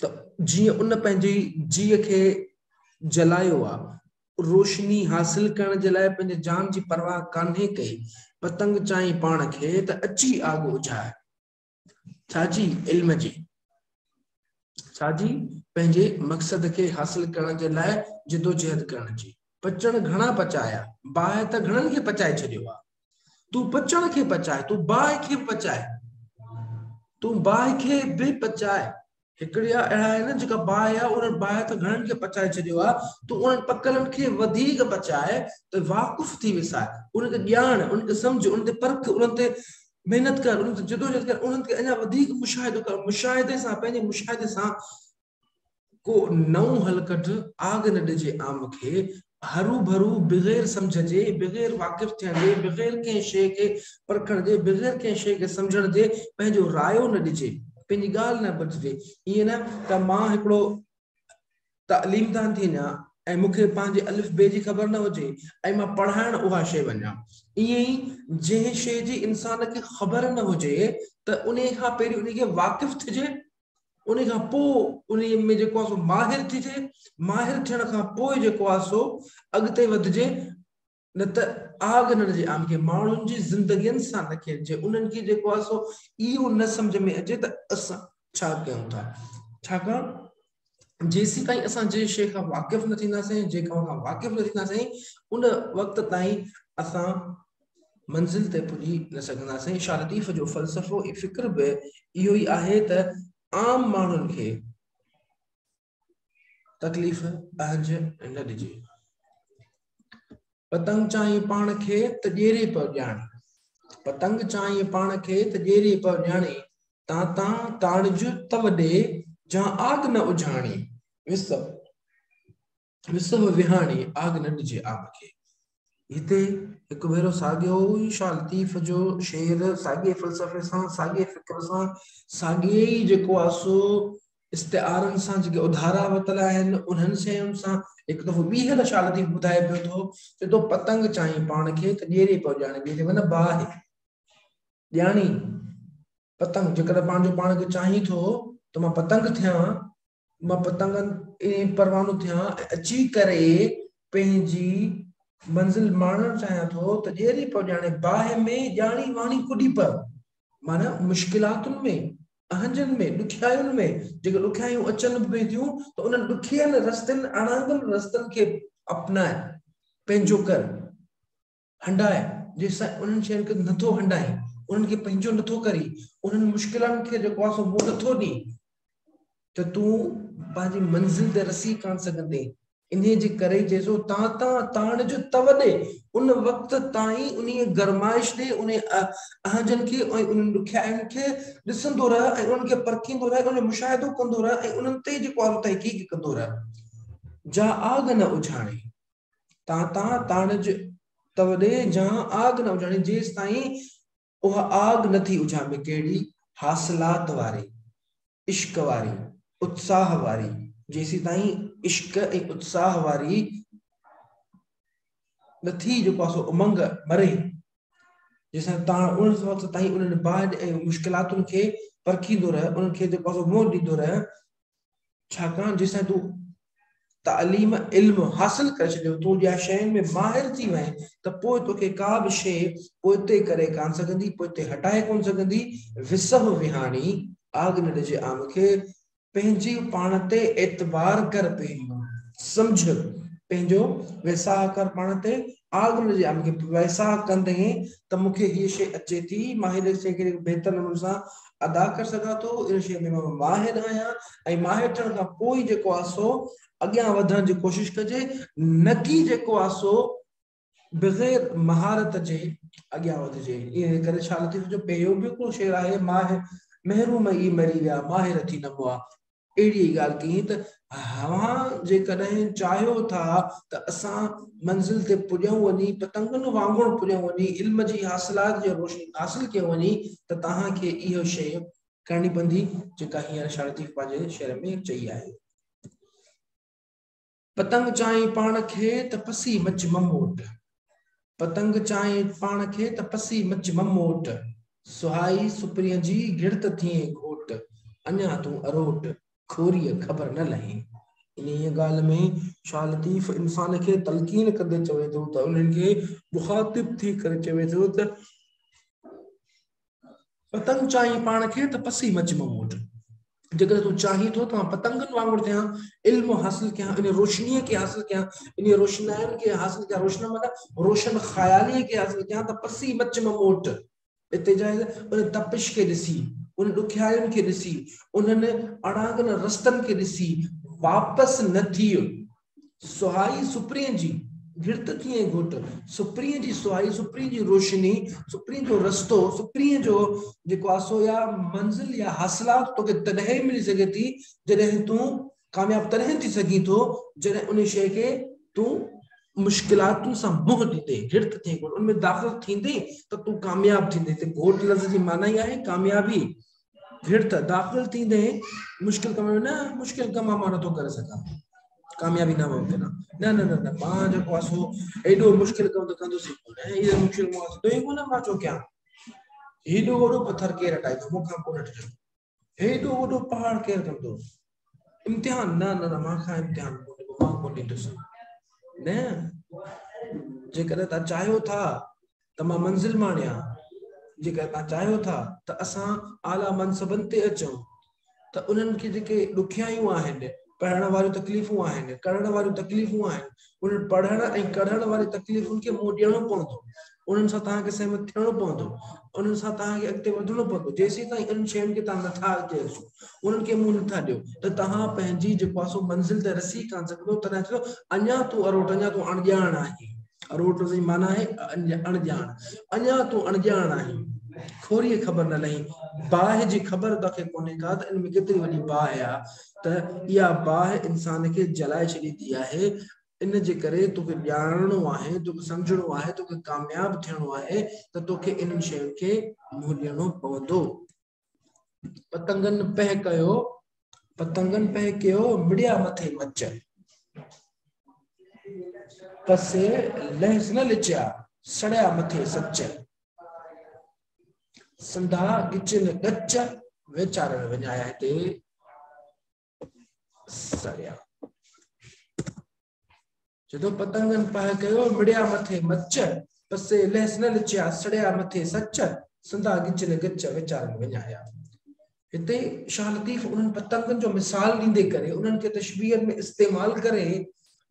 ته جيئن ان پنهنجي جيء کي جلايو آ، روشني حاصل ڪرڻ جي لاء پنهنجي جان جي پرواهه ڪانهي ڪئي، پتنگ چيائين پاڻ کي ته اچي آڳ اجهاء. ڇاجي علم جي، ڇاجي پنهنجي مقصد کي حاصل ڪرڻ جي لاء جدوجهد ڪرڻ جي، پچڻ گهڻا پچايا، باهه ته گهڻن کي پچائي ڇڏيو آ، تون پچڻ کي پچاء تون باهه کي به پچاء تون باهه کي به پچاء هڪڙيا اهڙا آهن جيڪا باهه آ انهن باهه ته گهڻن کي پچائي ڇڏيو آ تون انهن پڪلن کي وڌيڪ پچاء ته واقف ٿي ويساء انهن کي ڄاڻ انهن کي سمجهه انهن تي پرک انهن تي محنت ڪر انهن تي جدوجهد ڪر انهن کي اڃا وڌيڪ مشاهدو ڪر مشاهدي سان پنهنجي مشاهدي سان ڪو نئون حل ڪڍ، آگ نه ڏجي عام کي، هروڀرو بغير سمجهه جي، بغير واقف ٿيڻ جي، بغير ڪنهن شيء کي پرکڻ جي، بغير ڪنهن شيء کي سمجهڻ جي پنهنجو رايو نه ڏجي، پنهنجي ڳالهه نه ٻڌجي، ائين نه ته مان هڪڙو تعليمدان ٿي وڃان ۽ مون کي پنهنجي الف بي جي خبر نه هجي ۽ مان پڙهائڻ اها شيء وڃان. ائين ئي جنهن شيء جي انسان کي خبر نه هجي ته انهيء کان پهرين انهيء کي واقف ٿجي ان کان پوء انهي ۾ جيڪو آهي سو ماهر ٿجي ماهر ٿيڻ کان پوء جيڪو آهي سو اڳتي وڌجي نه ته آگ نه ڏجي آن کي ماڻهن جي زندگين سان نه کيڏجي انهن کي جيڪو آهي سو اهو نه سمجهه ۾ اچي ته اسان ڇا ڪيون ٿا ڇاڪاڻ جيسيتائين اسان جي شيء کان واقف نه ٿينداسين جيڪا کان واقف نه ٿينداسين ان وقت تائين اسان منزل تي پڄي نه سگهنداسين. شاهه لطيف جو فلسفو ۽ فڪر به اهو ئي آهي ته عام ماڻهن کي تڪليف اهنج نه ڏجي. پتنگ چانهين پاڻ کي ته ڄيري پئو ڄاڻي پتنگ چانهين پاڻ کي ته ڄيري پئو ڄاڻي تان تان تاڻج تم ڏي جان آگ نه اجهاڻي وسب وسهه وهاڻي آگ نه ڏجي آب کي. هتي هڪ ڀيرو ساڳيو ئي شاهه لطيف جو شعر ساڳئي فلسفي سان ساڳئي فڪر سان ساڳئي ئي جيڪو آهي سو استعارن سان جيڪي اڌارا وتل آهن انهن شين سان هڪ دفعو ٻيهر شاهه لطيف ٻڌائي پيو ٿو چي تو پتنگ چائين پاڻ کي ته ڏيري پيو ڄاڻي ڏيري معنيٰ باهه ڄاڻي پتنگ جيڪڏهن پنهنجو پاڻ کي چاهين ٿو ته مان پتنگ ٿيان مان پتنگن ائين پروانو ٿيان ۽ اچي ڪري پنهنجي منزل ماڻڻ چاهيان ٿو ته ڄيري پئو ڄاڻي باهه ۾ ڄاڻي واڻي ڪڏي پئو معنيٰ مشڪلاتن ۾ اهنجن ۾ ڏکيائين ۾ جيڪي ڏکيائيون اچن به پيون ٿيون ته انهن ڏکين رستن اڻانگن رستن کي اپنائي پنهنجو ڪر هنڊاء، جيسين انهن شين کي نٿو هنڊائين، انهن کي پنهنجو نٿو ڪرين، انهن مشڪلن کي جيڪو آهي سو منهن نٿو ڏين ته تون پنهنجي منزل تي رسي ڪانه سگهندين. انهيء جي ڪري ئي چئجو تان تان تاڻ جو تئو ڏي، ان وقت تائين انهيء گرمائش ڏي، انهن اهنجن کي ۽ انهن ڏکيائين کي ڏسندو رهه ۽ انهن کي پرکيندو رهه، انهن جو مشاهدو ڪندو رهه ۽ انهن تي جيڪو آهي سو تحقيق ڪندو رهه. جا آگ نه اجهاڻي. تان تان تان جو توڏي جان آگ نه اجهاڻي جيستائين اها آگ نه ٿي اجهان ۾ ڪهڙي حاصلات واري عشق واري اتساهه واري جيسيتائين عشق ۽ اتساهه واري نه ٿي جو پاسو امنگ مري جيسان تان ان وقت تائين انهن باهه ۽ مشڪلاتن کي پرکيندو رهي انهن کي جو پاسو منهن ڏيندو رهي ڇاڪاڻ جيسين تون تعليم، علم، حاصل ڪري ڇڏيو، تون ٻيا شين ۾ ماهر ٿي وئين ته پوء توکي ڪا به شيء پوئتي ڪري ڪانه سگهندي، پوئتي هٽائي ڪونه سگهندي، وسهه وهاڻي، آڳ نه ڏجي عام کي، پنهنجي پاڻ تي اعتبار ڪر پهريون سمجهه پنهنجو ويساهه ڪر پاڻ تي، آڳ نه ڏجي عام کي، ويساهه ڪندين ته مون کي هيء شيء اچي ٿي، ماهر شيء کي بهتر نموني سان ادا ڪري سگهان ٿو ان شيء ۾ مان ماهر آهيان ۽ ماهر ٿيڻ کان پوء ئي جيڪو آهي سو اڳيان وڌڻ جي ڪوشش ڪجي نه ڪي جيڪو آهي سو بغير مهارت جي اڳيان وڌجي ان ڪري شاهه لطيف جو ٻيو به هڪڙو شعر آهي ماهر محروم ئي مري ويا ماهر ٿي نه هئا اهڙي ئي ڳالهه ڪيئي ته اوهان جيڪڏهن چاهيو ٿا ته اسان منزل تي پڄون وڃي، پتنگن وانگر پڄون وڃي، علم جي حاصلات جي روشني حاصل ڪيون وڃي ته توهان کي اهو شيء ڪرڻي پوندي جيڪا هينئر شاهه لطيف پنهنجي شعر ۾ چئي آهي. پتنگ چائين پاڻ کي ته پسي مچ مموٽ پتنگ چائين پاڻ کي ته پسي مچ مموٽ سهائي سپرينء جي گهڙت ٿئين گهوٽ اڃا تون اروٽ کوريء خبر نه لهين. انهيء ڳالهه ۾ شاهه لطيف انسان کي تلقين ڪندي چوي ٿو ته انهن کي مخاطب ٿي ڪري چوي ٿو ته. پتنگ چاهين پاڻ کي ته پسي مچ مئو وٽ جيڪڏهن تون چاهين ٿو ته مان پتنگن وانگر ٿيان علم حاصل ڪيان ان روشني کي حاصل ڪيان ان روشنائن کي حاصل ڪيان روشن مانا روشن خيالي کي حاصل ڪيان ته پسي مچ مئو وٽ اتي جاء ان تپش کي ڏسي ان ڏکيائين کي ڏسي انهن اڻانگن رستن کي ڏسي واپس نه ٿي سهائي سپرين جي گهرت ٿي ۽ گهوٽ سپرين جي سهائي سپرين جي روشني سپرين جو رستو سپرين جو جيڪو آ سو يا منزل يا حاصلات توکي تڏهن ئي ملي سگهي ٿي جڏهن تون ڪامياب تڏهن ٿي سگهين ٿو جڏهن ان شيء کي تون مشڪلاتن سان منهن ڏيندي گهرت ٿي گهوٽ ان ۾ داخل ٿيندي ته تون ڪامياب ٿيندي ته گهوٽ لفظ جي معنيٰ ئي آهي ڪاميابي ڀيڙ ته داخل ٿيندي مشڪل ڪم ۾ نه مشڪل ڪم مان نٿو ڪري سگهان ڪاميابي نه ممڪن آهي نه نه نه نه مان جيڪو آهي سو ايڏو مشڪل ڪم ته ڪندوسي ڪونه ايڏو مشڪل مان ٿيندو ئي ڪونه مان ڇو ڪيان هيڏو وڏو پٿر ڪير هٽائيندو مون کان ڪونه هٽجندو هيڏو وڏو پهاڙ ڪير ڪندو امتحان نه نه نه مان کان امتحان ڪونهي ڏبو مان ڪونهي ڏيندس نه جيڪڏهن تان چاهيو ٿا ته مان منزل ماڻيا جيڪڏهن تان چاهيو ٿا ته اسان اعليٰ منصبن تي اچون ته انهن کي جيڪي ڏکيائيون آهن پڙهڻ واريون تڪليفون آهن ڪرڻ واريون تڪليفون آهن انهن پڙهڻ ۽ ڪڙهڻ واري تڪليفن کي منهن ڏيڻو پوندو انهن سان توهان کي سهمت ٿيڻو پوندو انهن سان توهان کي اڳتي وڌڻو پوندو جيسين تائين انهن شين کي توهان نٿا اڳتي رسو انهن کي منهن نٿا ڏيو ته توهان پنهنجي جي پاسو منزل تي رسي ڪان سگهندو تڏهن چئو اڃا تون اروٽ اڃا تون اڻڄاڻ آهي اروٽ جي معنی آهي اڻڄاڻ اڃا تون اڻڄاڻ آهي کوري خبر نه لهي باهه جي خبر توکي ڪونهي ڪا ته ان ۾ ڪيتري وڏي باهه آهي ته اها باهه انسان کي جلائي ڇڏيندي آهي، ان جي ڪري توکي ڄاڻڻو آهي، توکي سمجهڻو آهي، توکي ڪامياب ٿيڻو آهي ته توکي انهن شين کي منهن ڏيڻو پوندو. پتنگن پهه ڪيو، پتنگن پهه ڪيو، مڙيا مٿي مچ. پسي لهس نه لچيا، سڙيا مٿي سچ. سنڌا ڳچين ڳچ ويچارڻ وڃايا هتي سڙيا جدو پتنگن پاء ڪيو مڙيا مٿي مچ پسي لهس نه لچيا سڙيا مٿي سچ سنڌا ڳچين ڳچ ويچارڻ وڃايا هتي شاهه لطيف انهن پتنگن جو مثال ڏيندي ڪري انهن کي تشبيهن ۾ استعمال ڪري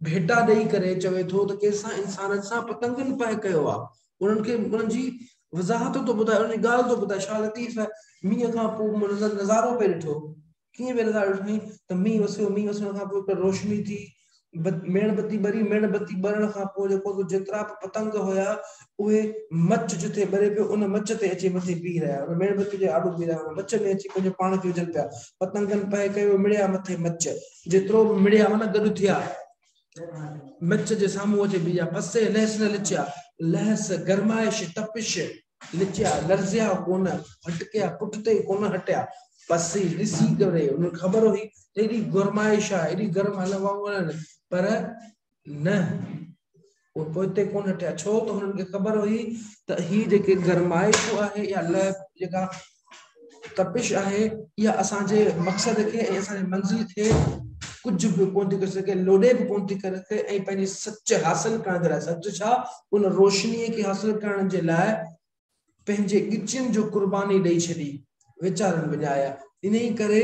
ڀيٽا ڏئي ڪري چوي ٿو ته ڪيسان انسانن سان پتنگن پنهن ڪيو آهي انهن کي انهن جي وضاحت ٿو ٻڌائي انهن جي ڳالهه ٿو ٻڌائي شاهه لطيف مينهن کان پوء نظارو پئي ڏٺو ڪيئن پئي نظارو ڏٺائين ته مينهن وسيو مينهن وسڻ کان پوء روشني ٿي ميڻ بتي ٻري، ميڻ بتي ٻرڻ کان پوء جيڪو به جيترا به پتنگ هيا اهي مچ جتي ٻري پيو ان مچ تي اچي مٿي بيهي رهيا ان ميڻ بتي جي آڏو بيهي رهيا مچ ۾ اچي پنهنجو پاڻ کي وجهن پيا پتنگن پهه ڪيو مڙيا مٿي مچ جيترو به مڙيا هو نه گڏ ٿيا مچ جي سامهون اچي بيهيا پسي لهس نه لچيا لهس گرمائش تپش لچيا، لرزيا ڪونه، هٽڪيا، پٺتي ئي ڪونه هٽيا. بس هي ڏسي ڪري هنن کي خبر هئي ته ايڏي گرمائش آهي، ايڏي گرم هلن وانگر آهن، پر نه، هو پوئتي ڪونه هٽيا، ڇو ته هنن کي خبر هئي ته هي جيڪي گرمائشون آهي يا لهه جيڪا تپش آهي اها اسان جي مقصد کي ۽ اسان جي منزل کي ڪجهه به ڪونه ٿي ڪري سگهي لوڏي به ڪونه ٿي ڪري سگهي ۽ پنهنجي سچ حاصل ڪرڻ جي لاء سچ ڇا ان روشني کي حاصل ڪرڻ جي لاء پنهنجي ڳچين جو قرباني ڏئي ڇڏي ويچارن وڄايا انهي ڪري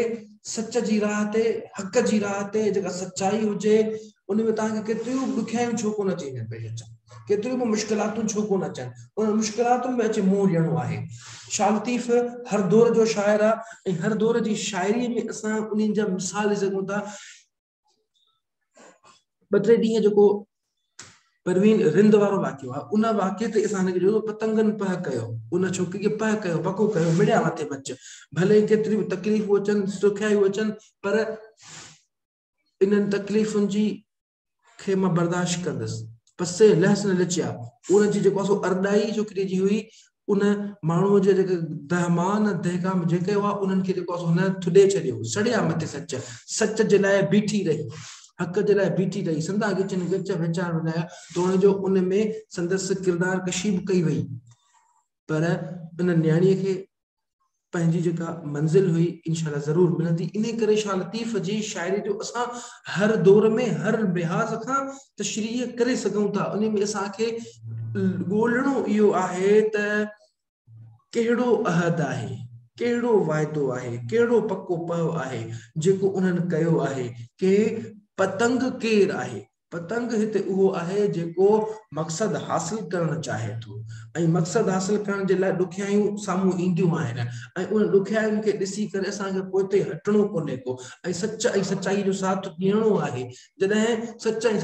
سچ جي راهه تي حق جي راهه تي جيڪا سچائي هجي ان ۾ توهان کي ڪيتريون به ڏکيائيون ڇو ڪونه اچي وڃن پيش اچن، ڪيتريون به مشڪلاتون ڇو ڪونه اچن، انهن مشڪلاتن ۾ اچي منهن ڏيڻو آهي. شاهه لطيف هر دور جو شاعر آهي ۽ هر دور جي شاعريء ۾ اسان انهن جا مثال ڏئي سگهون ٿا. ٻه ٽي ڏينهن جيڪو پروين رند وارو واقعو آهي ان واقعي تي اسان کي جو پتنگن پهه ڪيو ان ڇوڪري کي پهه ڪيو پڪو ڪيو مڙيا مٿي بچ ڀلي ڪيتريون تڪليفون اچن سکيائيون اچن پر انهن تڪليفن جي کي مان برداشت ڪندس پر سي لهس نه لچيا ان جي جيڪو سو ارڏائي جو ڪري جي هئي ان ماڻهو جي جيڪي دهمان دهڪام جيڪي هئا انهن کي جيڪو سو نه ٿڏي ڇڏيو سڙيا مٿي سچ سچ جي لاء بيٺي رهي حق جي لاء بيٺي رهي سندا گچن گچ ويچار ولايا تو ان جو ان ۾ سندس ڪردار ڪشي به ڪئي وئي پر ان نياڻي کي پنهنجي جيڪا منزل هئي انشاء الله ضرور ملندي انهي ڪري شاهه لطيف جي شاعري جو اسان هر دور ۾ هر لحاظ کان تشريح ڪري سگهون ٿا انهي ۾ اسان کي ڳولڻو اهو آهي ته ڪهڙو عهد آهي ڪهڙو واعدو آهي ڪهڙو پڪو پهو آهي جيڪو انهن ڪيو آهي ڪي پتنگ ڪير آهي پتنگ هتي اهو آهي جيڪو مقصد حاصل ڪرڻ چاهي ٿو ۽ مقصد حاصل ڪرڻ جي لاء ڏکيائيون سامهون اينديون آهن ۽ انهن ڏکيائين کي ڏسي ڪري اسان کي پوئتي هٽڻو ڪونهي ڪو ۽ سچ ۽ سچائي جو ساٿ ڏيڻو آهي جڏهن سچ ۽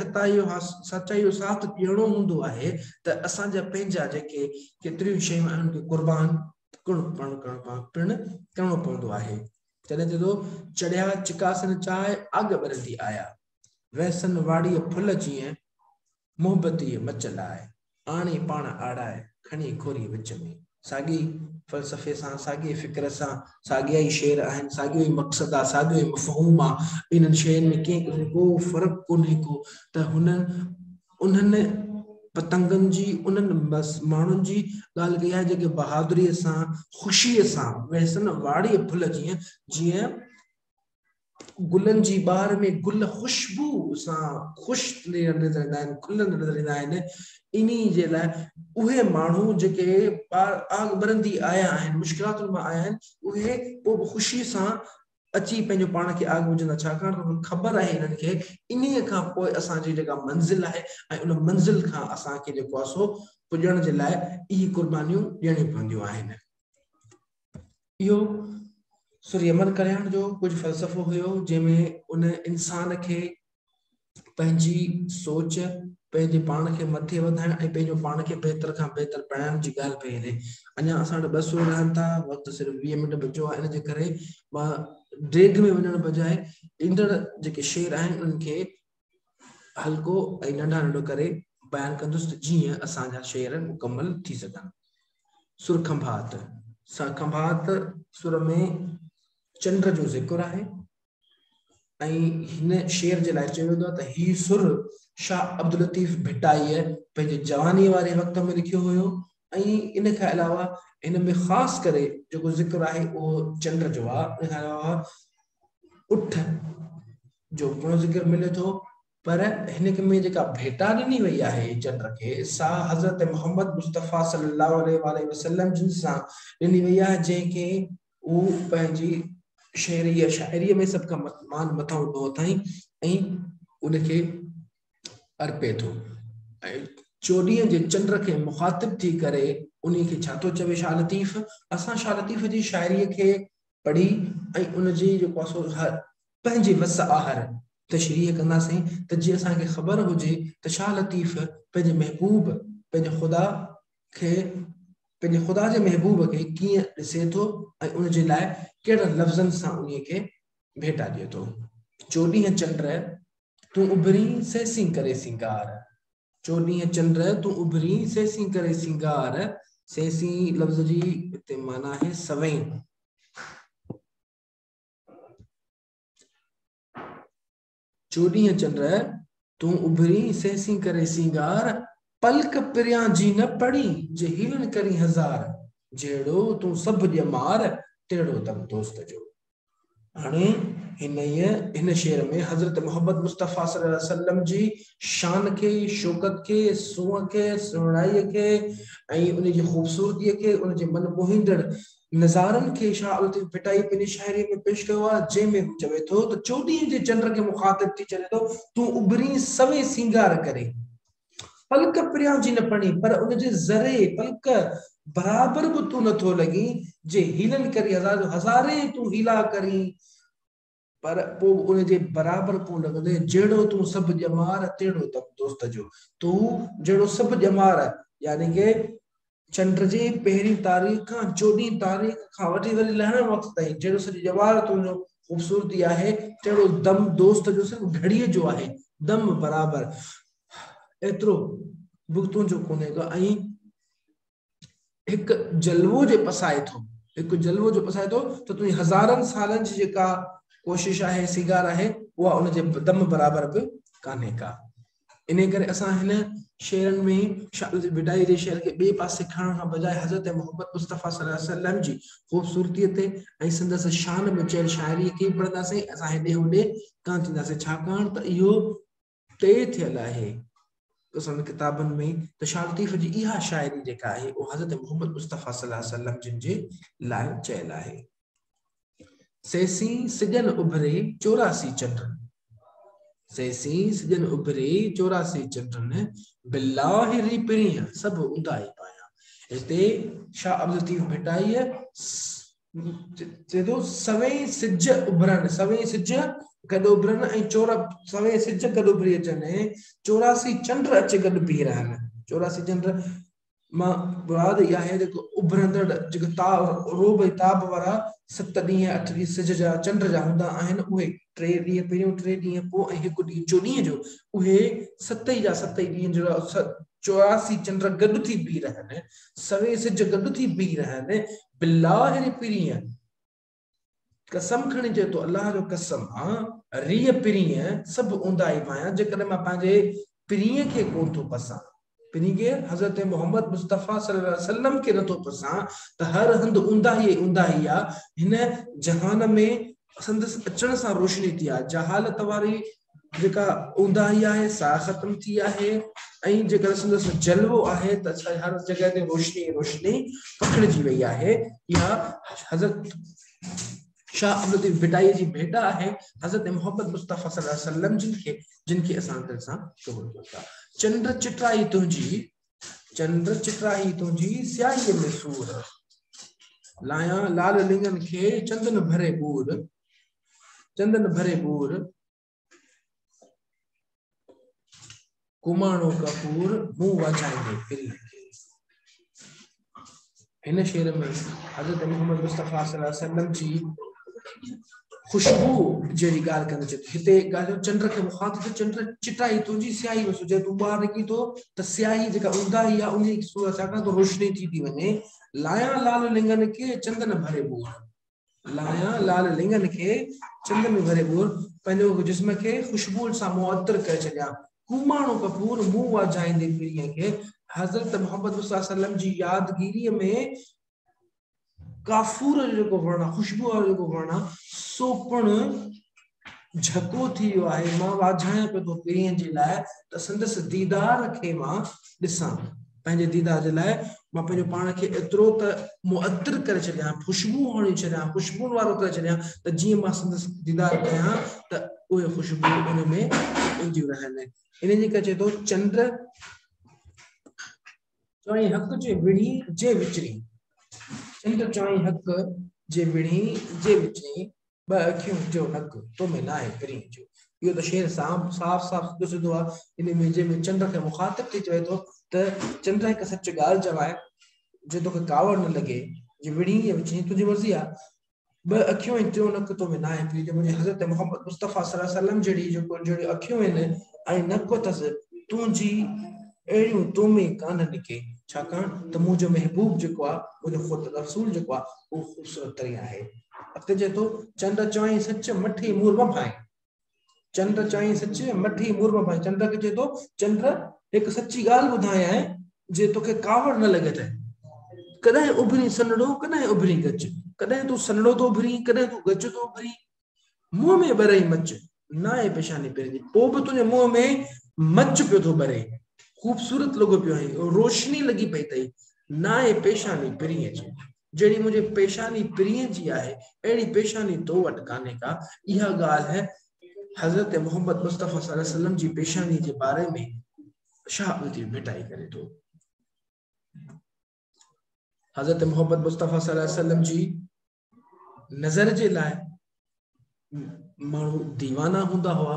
سچائي جو ساٿ ڏيڻو هوندو آهي ته اسان جا پنهنجا جيڪي ڪيتريون شيون آهن انهن کي قربان پڻ ڪرڻو پوندو آهي جڏهن چئي ٿو چڙهيا چڪاسن چاهه آڳ ٻرندي آيا. ويسن واڙيء ڦل جيئن، محبتيء مچ لاء، آڻي پاڻ آڙائي، کڻي کوري وچ ۾. ساڳئي ئي فلسفي سان، ساڳئي ئي فڪر سان، ساڳيا ئي شعر آهن، ساڳيو ئي مقصد آ، ساڳيو ئي مفهوم آ، انهن شين ۾ ڪنهن قسم ڪو فرق ڪونهي ڪو ته هن انهن پتنگن جي، انهن ماڻهن جي ڳالهه ڪئي آهي جيڪي بهادريء سان، خوشيء سان، ويسن واڙيء ڦل جيئن، جيئن گلن جي بهار ۾ گل خوشبو سان خوش نظر ايندا آهن کلندا نظر ايندا آهن انهي جي لاء اهي ماڻهو جيڪي آگ ٻرندي آيا آهن مشڪلاتن مان آيا آهن اهي پوء به خوشي سان اچي پنهنجو پاڻ کي آگ وجهندا ڇاڪاڻ ته انهن کي خبر آهي انهن کي انهي کان پوء اسان جي جيڪا منزل آهي ۽ ان منزل کان اسان کي جيڪو آهي سو پڄڻ جي لاء اهي قربانيون ڏيڻيون پونديون آهن اهو سري امر ڪلياڻ جو ڪجهه فلسفو هيو جنهن ۾ ان انسان کي پنهنجي سوچ پنهنجي پاڻ کي مٿي وڌائڻ ۽ پنهنجو پاڻ کي بهتر کان بهتر بڻائڻ جي ڳالهه پئي هلي اڃا اسان وٽ ٻه سور رهن ٿا وقت صرف ويهه منٽ بچو آهي ان جي ڪري مان ڊيگهه ۾ وڃڻ بجاء ايندڙ جيڪي شعر آهن انهن کي هلڪو ۽ ننڍا ننڍو ڪري بيان ڪندس ته جيئن اسان جا شعر مڪمل ٿي سگهن. سر کنڀات، سر کنڀات سر ۾ چنڊ جو ذڪر آهي ۽ هن شعر جي لاء چيو ويندو آهي ته هي سر شاهه عبداللطيف ڀٽائيء پنهنجي جواني واري وقت ۾ لکيو هيو ۽ ان کان علاوه هن ۾ خاص ڪري جيڪو ذڪر آهي اهو چنڊ جو آهي ان کان علاوه اٺ جو گهڻو ذڪر ملي ٿو پر هن ۾ جيڪا ڀيٽا ڏني وئي آهي چٽ کي سا حضرت محمد مصطفيٰ صلي الله عليه وآله وسلم جن سان ڏني وئي آهي جنهن کي هو پنهنجي شعري يا شاعري ۾ سڀ کان مان مٿان هوندو اٿائين ۽ ان کي ارپي ٿو ۽ چوڏهين جي چنڊ کي مخاطب ٿي ڪري انهي کي ڇا ٿو چوي شاهه لطيف اسان شاهه لطيف جي شاعري کي پڙهي ۽ ان جي جيڪو آهي سو هر پنهنجي وس آهر تشريح ڪنداسين ته جي اسان کي خبر هجي ته شاهه لطيف پنهنجي محبوب پنهنجي خدا کي پنهنجي خدا جي محبوب کي ڪيئن ڏسي ٿو ۽ ان جي لاء ڪهڙن لفظن سان انهي کي ڀيٽا ڏي ٿو چوڏهين چنڊ تون اڀرين سهسين ڪري سينگار چوڏهين چنڊ تون اڀرين، سيسين ڪري سينگار. سيسين لفظ جي هتي معنيٰ آهي سوين. چوڏهين چنڊ تون اڀرين، سيسين ڪري سينگار. پلڪ پريان جي نه پڙي، جي هيلن ڪرين هزار. جهڙو تون سڀ ڄمار، تهڙو تب دوست جو. هاڻي هنئي هن شعر ۾ حضرت محمد مصطفيٰ صلي الله عليه وسلم جي شان کي، شوڪت کي، سونهن کي، سهڻائيء کي ۽ ان جي خوبصورتيء کي، ان جي من موهيندڙ نظارن کي شاهه لطيف ڀٽائي پنهنجي شاعريء ۾ پيش ڪيو آهي، جنهن ۾ هو چوي ٿو ته چوڏهينء جي چنڊ کي مخاطب ٿي چوي ٿو، تون اڀرين سوين سينگار ڪرين. پلڪ پريان جي نه پڻي، پر ان جي ذري، پلڪ، برابر به تون نه ٿو لڳين، جي حيلن ڪرين هزار جو هزارين تون حيلا ڪرين، پر پوء به ان جي برابر ڪونه لڳندين، جهڙو تون سڀ ڄمار، تهڙو تب دوست جو، تون جهڙو سڀ ڄمار يعني ڪه چنڊ جي پهرين تاريخ کان چوڏهين تاريخ کان وٺي وري لهڻ وقت تائين جهڙو سڄي ڄوار تنهنجو خوبصورتي آهي، تهڙو دم دوست جو صرف گهڙيء جو آهي، دم برابر ايترو به تنهنجو ڪونهي ڪو ۽ هڪ جلوو جي پسائي ٿو، هڪ جلوو جو پسائي ٿو ته تنهنجي هزارن سالن جي جيڪا ڪوشش آهي، سيگار آهي، اها ان جي دم برابر به ڪانهي ڪا. انهيء ڪري اسان هن شعرن ۾ شاهه ڀٽائي جي شعر کي ٻئي پاسي کڻڻ کان بجاء حضرت محمد مصطفيٰ صلي الله عليه وسلم جي خوبصورتيء تي ۽ سندس شان ۾ چيل شاعريء کي ئي پڙهنداسين ۽ اسان هيڏي هوڏي ڪانه ٿينداسين ڇاڪاڻ ته اهو طئي ٿيل آهي اسان ڪتابن ۾ ته شاهه لطيف جي اها شاعري جيڪا آهي اها حضرت محمد مصطفيٰ صلي الله عليه وسلم جن جي لاء چيل آهي سيسين سڄڻ اڀري چوراسي چنڊن سيسين سڄڻ اڀري چوراسي چنڊن بالله ري پڻيء سڀ اونداهي پايان هتي شاهه عبدالطيف ڀٽائيء چئي ٿو سوين سج اڀرن سوين سج گڏ اڀرن ۽ چور سوين سج گڏ اڀري اچن چوراسي چنڊ اچي گڏ بيهي رهن چوراسي چنڊ مان مراد اها آهي ته اڀرندڙ جيڪي تاب، عروب ۽ تاب وارا ست ڏينهن، اٺ ڏينهن سج جا ۽ چنڊ جا هوندا آهن، اهي، ٽي ڏينهن پهريون، ٽي ڏينهن پوء ۽ هڪ ڏينهن چوڏهينء جو، اهي ست ئي جا ست ئي ڏينهن جهڙا چوراسي چنڊ گڏ ٿي بيهي رهن، سوين سج گڏ ٿي بيهي رهن، بلاهر پرينء. قسم کڻي چئي ٿو الله جو قسم مان ريء پرينء سڀ اونداهي پايان جيڪڏهن مان پنهنجي پرينء کي ڪونه ٿو پسان پرينء کي حضرت محمد مصطفيٰ صلي الله عليه وسلم کي نٿو پسان ته هر هنڌ اونداهي ئي اونداهي آهي هن جهان ۾ سندس اچڻ سان روشني ٿي آهي جهالت واري جيڪا اونداهي آهي سا ختم ٿي آهي ۽ جيڪا سندس جلوو آهي ته اسان هر جڳهه تي روشني روشني پکڙجي وئي آهي يا حضرت شاهه عبدالطيف بٽائي جي ڀيٽا آهي حضرت محمد مصطفيٰ صلي الله عليه وسلم جن کي جن کي اسان دل سان قبول ڪيون ٿا چنڊ چٽرائي تنهنجي چنڊ چٽرائي تنهنجي سياهي ۾ سور لايان لال لنگن کي چندن ڀري ٻور چندن ڀري ٻور ڪماڻو ڪپور مون وجھائيندي پھرين هن شعر ۾ حضرت محمد مصطفيٰ صلي الله علیه وسلم جي خوشبو جهڙي ڳالهه ڪندي چئي هتي ڳالهيو چنڊ کي مخاطب ٿو چنڊ چٽائي ٿو جي سياهي ۾ سجي تون ٻاهر نڪري ٿو ته سياهي جيڪا اونداهي آهي ان جي صورت ڇاڪاڻ ته روشني ٿي ٿي وڃي لايان لال لنگن کي چندن ڀري ٻور لايان لال لڱن کي چنگ ۾ ڀري ٻور، پنهنجو جسم کي خوشبوءن سان معطر ڪري ڇڏيان. ڪوماڻو ڪپور منهن واجهائيندي پيرينء کي حضرت محمد مصطفيٰ صلّي الله عليه وسلّم جي يادگيريء ۾ ڪافور جو جيڪو وڻ آهي، خوشبوء وارو جيڪو وڻ آهي، سو پڻ جهڪو ٿي ويو آهي، مان واجهايان پيو ٿو پرينء جي لاء ته سندس ديدار کي مان ڏسان. پنهنجي ديدار جي لاء مان پنهنجو پاڻ کي ايترو ته معطر ڪري ڇڏيان، خوشبو هڻي ڇڏيان، خوشبون وارو ڪري ڇڏيان ته جيئن مان سندس ديدار ڪيان ته اهي خوشبوئون ان ۾ اينديون رهن. ان جي ڪري چئي ٿو چنڊ چوائين حق جي وڙهي جي وچڙي چنڊ چوائين حق جي وڙهي جي وچڙي ٻه اکيون جو نڪ تو ۾ ناهي پرين جو. اهو ته شعر صاف صاف سڌو سڌو آ ان ۾ جنهن ۾ چنڊ کي مخاطب ٿي چوي ٿو ته چنڊ هڪ سچ ڳالهه چوائين جي توکي ڪاوڙ نه لڳي جي وڙهين يا وچين تنهنجي مرضي آ ٻه اکيون ۽ ٽيون نڪ تو ۾ ناهي پرين جو مون جي حضرت محمد مصطفيٰ صلي الله عليه وسلم جهڙي جهڙيون اکيون آهن ۽ نڪ اٿس تنهنجي اهڙيون تو ۾ ڪانهن ڪي، ڇاڪاڻ ته منهنجو محبوب جيڪو آ، منهنجو خود رسول جيڪو آ، اهو خوبصورت ترين آهي. اڳتي چئي ٿو، چنڊ چوائين سچ، مٺي مور مان ڀائين. چنڊ چوائين سچ، مٺي مور مان ڀائين. چنڊ کي چئي ٿو، چنڊ هڪ سچي ڳالهه ٻڌايانء، جي توکي ڪاوڙ نه لڳي ته، ڪڏهن اڀرين سنهڙو، ڪڏهن اڀرين ڳچ. ڪڏهن تون سنهڙو ٿو اڀرين، ڪڏهن تون ڳچ ٿو اڀرين. منهن ۾ ٻرئي مچ، ناهي پيشاني پنهنجي، پوء به تنهنجي منهن ۾ مچ پيو ٿو ٻري، خوبصورت لڳو پيو آهين، روشني لڳي پئي اٿئي، ناهي پيشاني پرينء جي، جهڙي منهنجي پيشاني پرينء جي آهي، اهڙي پيشاني تو وٽ ڪانهي ڪا، اها ڳالهه حضرت محمد مصطفيٰ صلي الله عليه وسلم جي پيشانيء جي باري ۾ شاهه الطيف ڀٽائي ڪري ٿو. حضرت محمد مصطفيٰ صلي الله عليه وسلم جي نظر جي لاء ماڻهو ديوانا هوندا هئا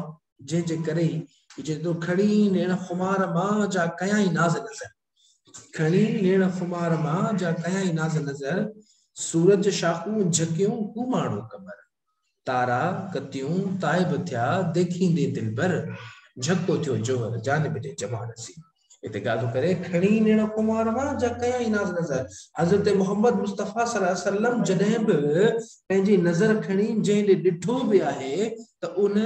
جنهن جي ڪري ئي جيترو کڻي نيڻ خمار مان جا ڪيائين ناز نظر کڻي نيڻ خمار مان جا ڪيائين ناز نظر سورج شاخون جهڪيون ڪو ماڻهو قمر تارا ڪتيون تائب ٿيا ديکيندي دلبر، جهڪو ٿيو جوهر جانب جي جمال سين. هتي ڳالهه ڪري کڻي نيڻ ڪنوار مان جا ڪيائين ناز نظر. حضرت محمد مصطفيٰ صلي الله عليه وسلم جڏهن به پنهنجي نظر کڻي جنهن ڏي ڏٺو به آهي ته ان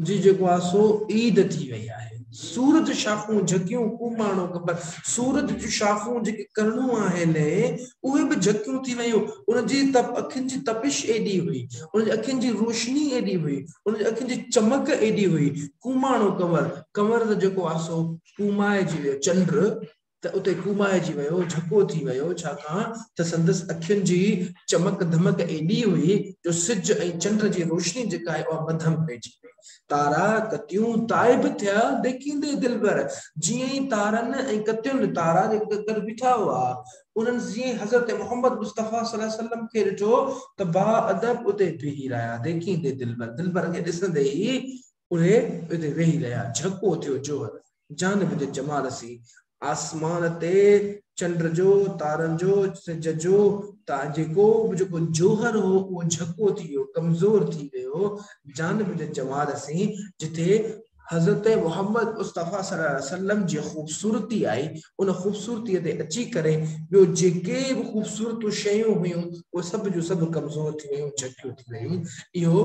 جي جيڪو آهي سو عيد ٿي وئي آهي. سور جون شاخون جهڪيون ڪو ماڻهو خبر. سور جون شاخون جيڪي ڪرڻون آهن اهي به جهڪيون ٿي ويون. ان جي اکين جي تپش ايڏي هئي. ان جي اکين جي روشني ايڏي هئي. ان جي اکين جي چمڪ ايڏي هئي. ڪوماڻو ڪنور، ڪنور ته جيڪو آهي سو ڪومائجي ويو. چنڊ ته اتي ڪومائجي ويو، جهڪو ٿي ويو، ڇاڪاڻ ته سندس اکين جي چمڪ ڌمڪ ايڏي هئي جو سج ۽ چنڊ جي روشني جيڪا آهي اها مڌم پئجي وئي. تارا، ڪتيون، تائب ٿيا، ليڪيندي دلبر، جيئن ئي تارن ۽ ڪتين، تارا جيڪي ڪٿي گڏ بيٺا هئا، انهن جيئن ئي حضرت محمد مصطفيٰ صلي الله عليه وسلم کي ڏٺو ته با ادب اتي بيهي رهيا، ليڪيندي دلبر، دلبر کي ڏسندي ئي اهي اتي ويهي رهيا، جهڪو ٿيو جوهر. جانب جو جمال سي، آسمان تي چنڊ جو، تارن جو، سج جو ته جيڪو به جيڪو جوهر هو اهو جهڪو ٿي ويو، ڪمزور ٿي ويو، جانب جو جمال سي، جتي حضرت محمد مصطفيٰ صلي الله عليه وسلم جي خوبصورتي آئي، ان خوبصورتي تي اچي ڪري ٻيو جيڪي به خوبصورتون شيون هيون اهي سڀ جون سڀ ڪمزور ٿي ويون، جهڪيون ٿي ويون، اهو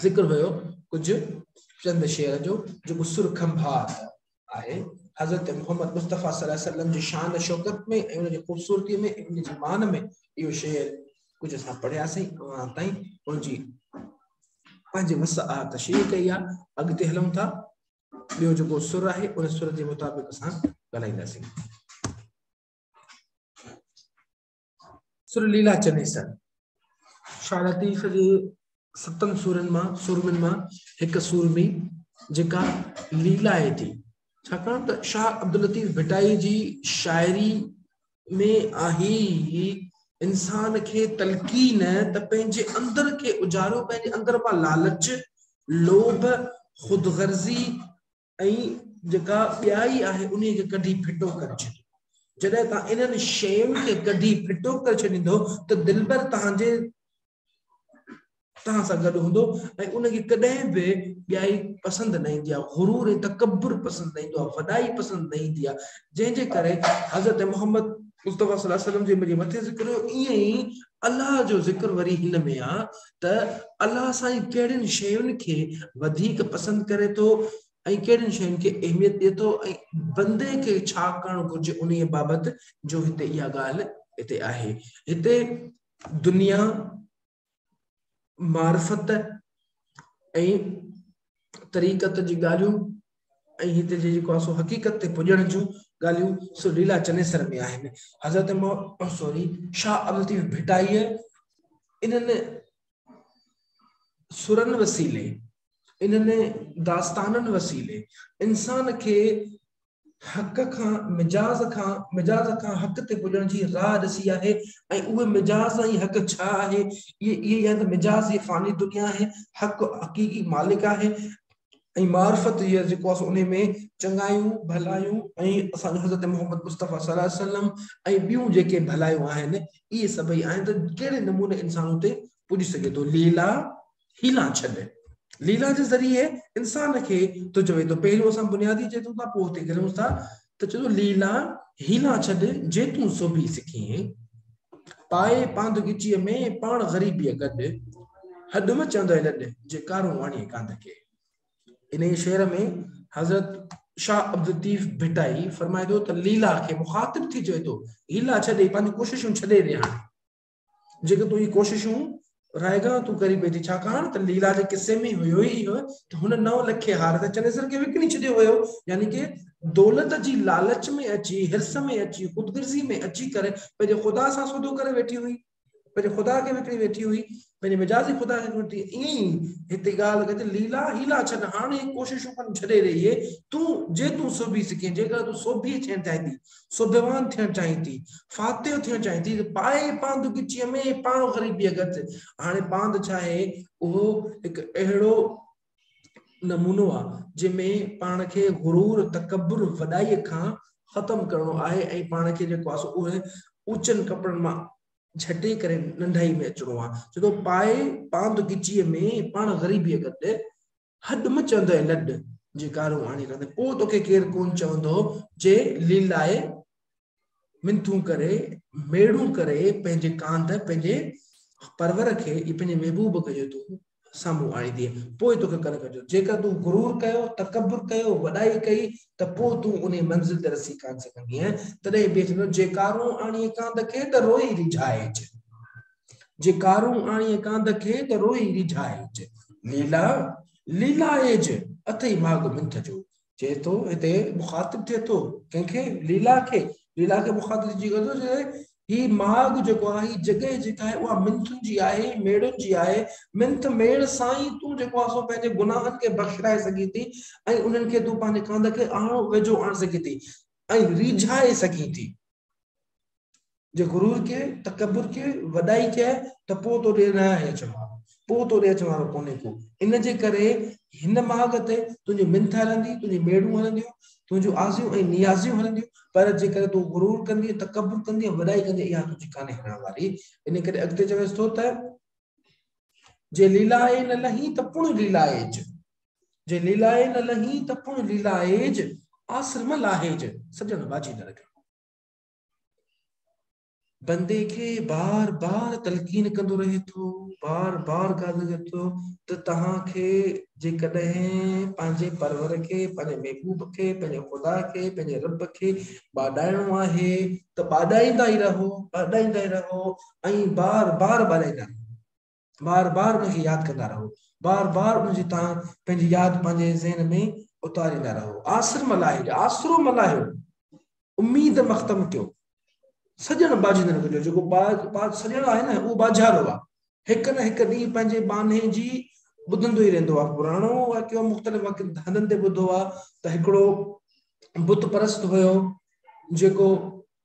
ذڪر هيو ڪجهه چند شعر جو جيڪو سر کنڀار آهي حضرت محمد مصطفيٰ صلي الله عليه وسلم جي شان شوڪت ۾ ۽ ان جي خوبصورتي ۾ ان جي مان ۾ اهو شعر ڪجهه اسان پڙهياسين اوهان تائين ان جي پنهنجي وس آ تشريح ڪئي آ اڳتي هلون ٿا ٻيو جيڪو سر آهي ان سر جي مطابق اسان ڳالهائينداسين سر ليلا چنيسر شارتيف جي ستن سورن مان سورمن مان هڪ سورمي جيڪا ليلا آهي ٿي ڇاڪاڻ ته شاهه عبداللطيف ڀٽائي جي شاعري ۾ آهي انسان کي تلقين ته پنهنجي اندر کي اجارو پنهنجي اندر مان لالچ لوڀ خود غرضي ۽ جيڪا ٻيائي آهي انهيء کي ڪڍي ڦٽو ڪري ڇڏيو. جڏهن توهان انهن شين کي ڪڍي ڦٽو ڪري ڇڏيندؤ ته دلبر توهان جي توهان سان گڏ هوندو ۽ ان کي ڪڏهن به ٻيائي پسند نه ايندي آهي، غرور ۽ تڪبر پسند نه ايندو آهي، وڏائي پسند نه ايندي آهي، جنهن جي ڪري حضرت محمد مصطفيٰ صلي الله عليه وسلم جي مٿي ذڪر هيو، ائين ئي الله جو ذڪر وري هن ۾ آهي ته الله سائين ڪهڙين شين کي وڌيڪ پسند ڪري ٿو ۽ ڪهڙين شين کي اهميت ڏئي ٿو ۽ بندي کي ڇا ڪرڻ گهرجي انهي بابت جو هتي اها ڳالهه هتي آهي هتي دنيا معرفت ۽ طريقت جي ڳالهيون ۽ هتي جي جيڪو آهي سو حقيقت تي پڄڻ جون ڳالهيون سو ليلا چنيسر ۾ آهن حضرت سوري شاهه عبدالطيف ڀٽائيء انهن سرن وسيلي انهن داستانن وسيلي انسان کي حق کان مجاز کان مجاز کان حق تي پڄڻ جي راهه ڏسي آهي ۽ اهي مجاز ۽ حق ڇا آهي اهي اهي ته مجاز جي فاني دنيا آهي حق حقيقي مالڪ آهي ۽ معرفت يا جيڪو آسان انهي ۾ چڱايون ڀلايون ۽ اسان جو حضرت محمد مصطفي صلي الله عليه وسلم ۽ ٻيون جيڪي ڀلايون آهن اهي سڀئي آهن ته ڪهڙي نموني انسان اتي پڄي سگهي ٿو ليلا هيلا ڇڏ ليلا جي ذريعي انسان کي تو چوي ته پهريون اسان بنيادي چيتون ٿا پوء اتي گريون ٿا ته چدو ليلا هيلا ڇڏ جي تون سوڀي سکين پائي پاند ڳچيء ۾ پاڻ غريبيء گڏ هڏ مچندئي لڏ جي ڪارون واڻيء ڪانڌ کي انهيء شعر ۾ حضرت شاهه عبدالطيف ڀٽائي فرمائي ٿو ته ليلا کي مخاطب ٿي چوي ٿو هيلا ڇڏي پنهنجون ڪوششون ڇڏي ڏي هاڻي جيڪي تنهنجي ڪوششون رائگان تون ڪري پئي ٿي ڇاڪاڻ ته ليلا جي قصي ۾ هيو ئي اهو ته هن نو لکي هار ته چنيسر کي وڪڻي ڇڏيو هيو يعني ڪي دولت جي لالچ ۾ اچي هرس ۾ اچي خودگرزي ۾ اچي ڪري پنهنجي خدا سان سودو ڪري ويٺي هئي پنهنجي خدا کي وڪڻي ويٺي هئي پنهنجي مجازي خدا کي وڪڻي ائين ئي هتي ڳالهه ڪجي ليلا هيلا ڇڏ هاڻي ڪوششون ڪن ڇڏي رهي تون جي تون سوڀي سکين جيڪر تون سوڀي ڇين چاهي ٿي سوڀيوان ٿيڻ چاهين ٿي، فاتح ٿيڻ چاهين ٿي ته پائي پانڌ ڳچيء ۾ پاڻ غريبيء ڳت. هاڻي پانڌ ڇا آهي؟ اهو هڪ اهڙو نمونو آهي، جنهن ۾ پاڻ کي غرور، تڪبر، وڏائيء کان ختم ڪرڻو آهي ۽ پاڻ کي جيڪو آهي سو اهي اوچن ڪپڙن مان جهٽي ڪري ننڍائيء ۾ اچڻو آهي. چوٿون، پائي پانڌ ڳچيء ۾ پاڻ غريبيء ڳت. هڏ م چوندئي لڏ جي ڪارون آڻي ڪندي پوء توکي ڪير ڪون چوندو جي ليلائي منٿون ڪري ميڙون ڪري پنهنجي ڪانڌ پنهنجي پرور کي ۽ پنهنجي محبوب کي جو تون سامهون آڻيندينء پوء توکي ڪن ڪجو جيڪر تون غرور ڪيو تڪبر ڪيو وڏائي ڪئي ته پوء تون انهي منزل تي رسي ڪانه سگهندينء تڏهن بيهه چوندو جي ڪارون آڻيئي ڪانڌ کي ته روئي ريجهائج. جي ڪارون آڻي ڪانڌ کي ته روئي ريجهائج. ليلا ليلائج اٿئي ماڳ منٿ جو. چئي ٿو هتي مخاطب ٿئي ٿو ڪنهن کي ليلا کي ليلا کي مخاطب جي ڪري ٿو چئي هي ماڳ جيڪو آهي هي جڳهه جيڪا آهي اها منٿن جي آهي ميڙن جي آهي منٿ ميڙ سان ئي تون جيڪو آهي سو پنهنجي گناهن کي بخشرائي سگهين ٿي ۽ انهن کي تون پنهنجي ڪانڌ کي آڻو ويجهو آڻي سگهين ٿي ۽ ريجهائي سگهين ٿي جي غرور ڪي تڪبر ڪي وڏائي ڪي ته پوء تو ڏي نه آهي اچڻ وارو پوء تو ڏي اچڻ وارو ڪونهي ڪو ان جي ڪري هن ماڳ تي تنهنجي منٿ هلندي تنهنجي ميڙون هلنديون تنهنجون آزيون ۽ نيازيون هلنديون پر جيڪڏهن تون غرور ڪندي تڪبر ڪندي وڏائي ڪندي اها تنهنجي ڪانهي هلڻ واري ان ڪري اڳتي چويس ٿو ته جي ليلائي نه لهين ته پڻ ليلائيج جي ليلائي نه لهين ته پڻ ليلائيج آسرم لاهيج سڄڻ باجي نه رکيو بندي کي بار بار تلقين ڪندو رهي ٿو بار بار ڳالهه ڪري ٿو ته توهان کي جيڪڏهن پنهنجي پرور کي پنهنجي محبوب کي پنهنجي خدا کي پنهنجي رب کي ٻاڏائڻو آهي ته ٻاڏائيندا ئي رهو ٻاڏائيندا ئي رهو ائين بار بار ٻارائيندا رهو. بار بار ان کي ياد ڪندا رهو. بار بار ان جي تان پنهنجي ياد پنهنجي ذهن ۾ اتاريندا رهو. آسر ملاهي جو آسرو ملاهيو. اميد مختم ڪيو. سڄڻ ٻاجهندڙ ڪجو. جيڪو ٻاج سڄڻ آهي نه اهو ٻاجهارو آهي. هڪ نه هڪ ڏينهن پنهنجي ٻانهي جي ٻڌندو ئي رهندو آهي. پراڻو واقعو مختلف هنڌن تي ٻڌو آهي ته هڪڙو بت پرست هيو جيڪو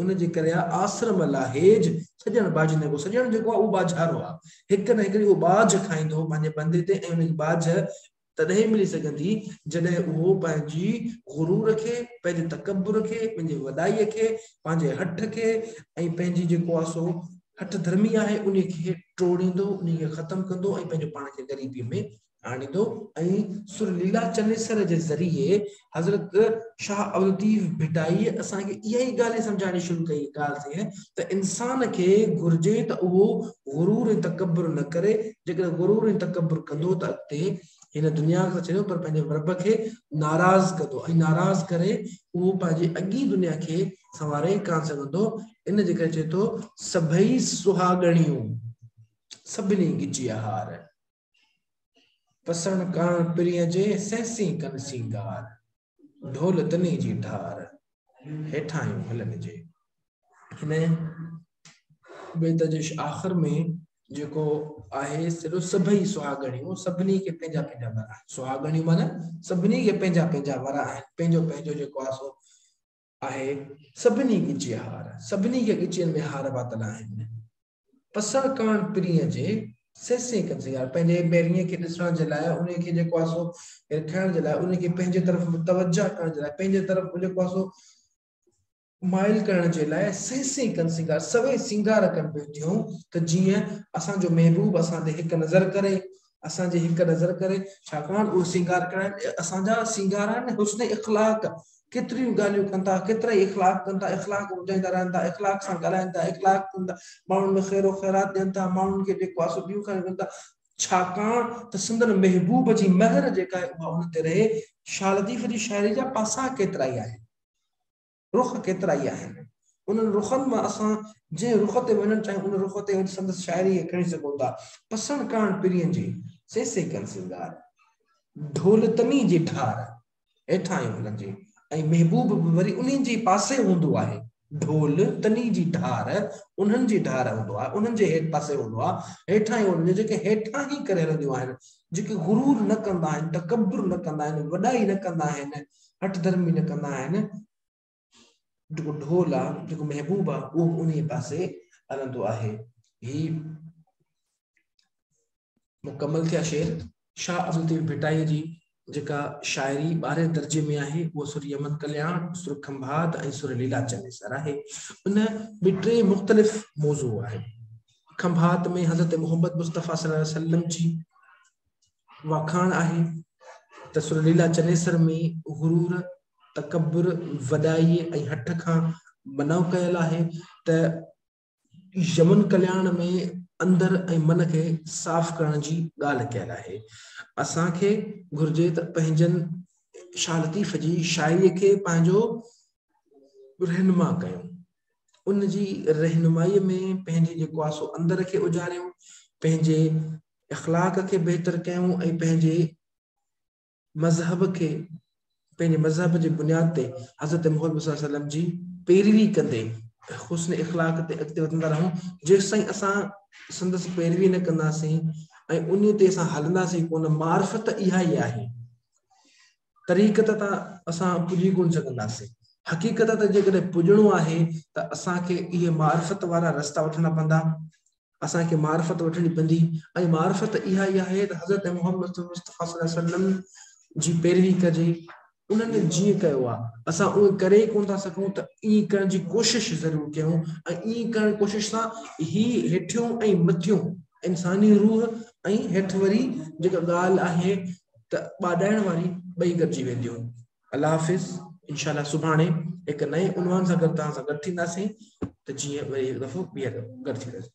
ان جي ڪري آء آسرم لاهيج سڄڻ ٻاجهه نه ڪيو. سڄڻ جيڪو آهي اهو ٻاجهارو آهي. هڪ نه هڪ ڏينهن اهو ٻاجهه کائيندو پنهنجي بندي تي ۽ ان کي ٻاجهه تڏهن ئي ملي سگهندي جڏهن اهو پنهنجي غرور کي، پنهنجي تڪبر کي، پنهنجي وڏائي کي، پنهنجي هٺ کي ۽ پنهنجي جيڪو آهي سو هٺ ڌرمي آهي انهي کي ٽوڙيندو، انهي کي ختم ڪندو ۽ پنهنجو پاڻ کي غريبي ۾ آڻيندو ۽ سر ليلا چنيسر جي ذريعي حضرت شاهه عبدالطيف ڀٽائي اسان کي اها ئي ڳالهه سمجهائڻي شروع ڪئي ڳالهه ته ته انسان کي گهرجي ته اهو غرور ۽ تڪبر نه ڪري جيڪڏهن غرور ۽ تڪبر ڪندو ته اڳتي هن دنيا کي ڇڏيو پر پنهنجي رب کي ناراض ڪندو ۽ ناراض ڪري اهو پنهنجي اڳي دنيا کي سنواري ڪان سگهندو ان جي ڪري چئي ٿو سڀئي سهاڳڻيون سڀني ڳچيا هار پسڻ ڪاڻ پرينء جي سهسين ڪن سينگار ڍول تني جي ڍار هيٺاهيون هلن جي هن بيت جي آخر ۾ جيڪو آهي سڏو سڀئي سهاڳڻيون سڀني کي پنهنجا پنهنجا ور آهن سهاڳڻيون معنی سڀني کي پنهنجا پنهنجا ور آهن پنهنجو پنهنجو جيڪو آهي سو آهي سڀني ڳچي هار سڀني کي ڳچين ۾ هار پاتل آهن پسڻ ڪاڻ پرينء جي سي سي ڪن سيار پنهنجي ميرنيء کي ڏسڻ جي لاء انهيء کي جيڪو آهي سو رکائڻ جي لاء انهيء کي پنهنجي طرف متوجهه ڪرڻ جي لاء پنهنجي طرف جيڪو آهي سو مائل ڪرڻ جي لاء سي سي ڪن سينگار سوين سينگار ڪن پيون ٿيون ته جيئن اسان جو محبوب اسان تي هڪ نظر ڪري اسان جي هڪ نظر ڪري، ڇاڪاڻ اهي سينگار ڪهڙا آهن؟ اهي اسان جا سينگار آهن، حسن اخلاق ڪيتريون ڳالهيون ڪن ٿا، ڪيترا ئي اخلاق ڪن ٿا، اخلاق وڌائيندا رهن ٿا، اخلاق سان ڳالهائين ٿا، اخلاق ڪن ٿا، ماڻهن ۾ خيرو خيرات ڏين ٿا، ماڻهن کي جيڪو آهي سو ڏيون کائيون ڪن ٿا، ڇاڪاڻ ته سندن محبوب جي مهر جيڪا آهي اها انهن تي رهي، شاهه لطيف جي شاعري جا پاسا ڪيترائي آهن. رخ ڪيترائي آهن. انهن رخن مان اسان جنهن رخ تي وڃڻ چاهيون ان رخ تي وڃي سندس شاعريء کي کڻي سگهون ٿا. پسڻ ڪاڻ پرين جي، سيسي ڪن سينگار. ڍول تني جي ڍار هيٺان ئي هلندي ۽ محبوب به وري انهن جي پاسي هوندو آهي. ڍول تني جي ڍار انهن جي ڍار هوندو آهي، انهن جي هيٺ پاسي هوندو آهي، هيٺان ئي هلندي، جيڪي هيٺان هي ڪري هلنديون آهن، جيڪي غرور نه ڪندا آهن، تڪبر نه ڪندا آهن، وڏائي نه ڪندا آهن، هٺ ڌرمي نه ڪندا آهن، جيڪو ڍول آ، جيڪو محبوب آ، اهو به انهيء پاسي هلندو آهي. هي مڪمل ٿيا شعر. شاهه عبدالطيف ڀٽائيء جي جيڪا شاعري ٻارهين درجي ۾ آهي، اها سر يمن ڪلياڻ، سر کنڀات ۽ سر ليلا چنيسر آهي. ان ۾ ٽي مختلف موضوع آهن. کنڀات ۾ حضرت محمد مصطفيٰ صلي الله عليه وسلم جي واکاڻ آهي ته سرليلا چنيسر ۾ غرور، تڪبر، وڏائيء ۽ هٺ کان منع ڪيل آهي ته يمن ڪلياڻ ۾ اندر ۽ من کي صاف ڪرڻ جي ڳالهه ڪيل آهي. اسان کي گهرجي ته پنهنجن شاهه لطيف جي شاعريء کي پنهنجو رهنما ڪيون. ان جي رهنمائيء ۾ پنهنجي جيڪواسو اندر کي اجاريون، پنهنجي اخلاق کي بهتر ڪيون ۽ پنهنجي مذهب کي پنهنجي مذهب جي بنياد تي حضرت محمد صلي الله عليه وسلم جي پيروي ڪندي حسن اخلاق تي اڳتي وڌندا رهون جيسين اسان سندس پيروي نه ڪنداسين ۽ انهي تي اسان هلنداسين ڪونه معرفت اها ئي آهي طريقت تان اسان پڄي ڪونه سگهنداسين. حقيقت تان جيڪڏهن پڄڻو آهي ته اسان کي اهي معرفت وارا رستا وٺڻا پوندا. اسان کي معرفت وٺڻي پوندي ۽ معرفت اها ئي آهي ته حضرت محمد مصطفيٰ صلي الله عليه وسلم جي پيروي ڪجي. انهن جيئن ڪيو آهي، اسان اهو ڪري ئي ڪونه ٿا سگهون ته ائين ڪرڻ جي ڪوشش ضرور ڪيون ۽ ائين ڪرڻ جي ڪوشش سان هي هيٺيون ۽ مٿيون انساني روح ۽ هيٺ وري جيڪا ڳالهه آهي ته ٻاڏائڻ واري ٻئي گڏجي وينديون. الله حافظ انشاء الله سڀاڻي هڪ نئين عنوان سان گڏ توهان سان گڏ ٿينداسين ته جيئن وري هڪ دفعو ٻيهر گڏ ٿينداسين.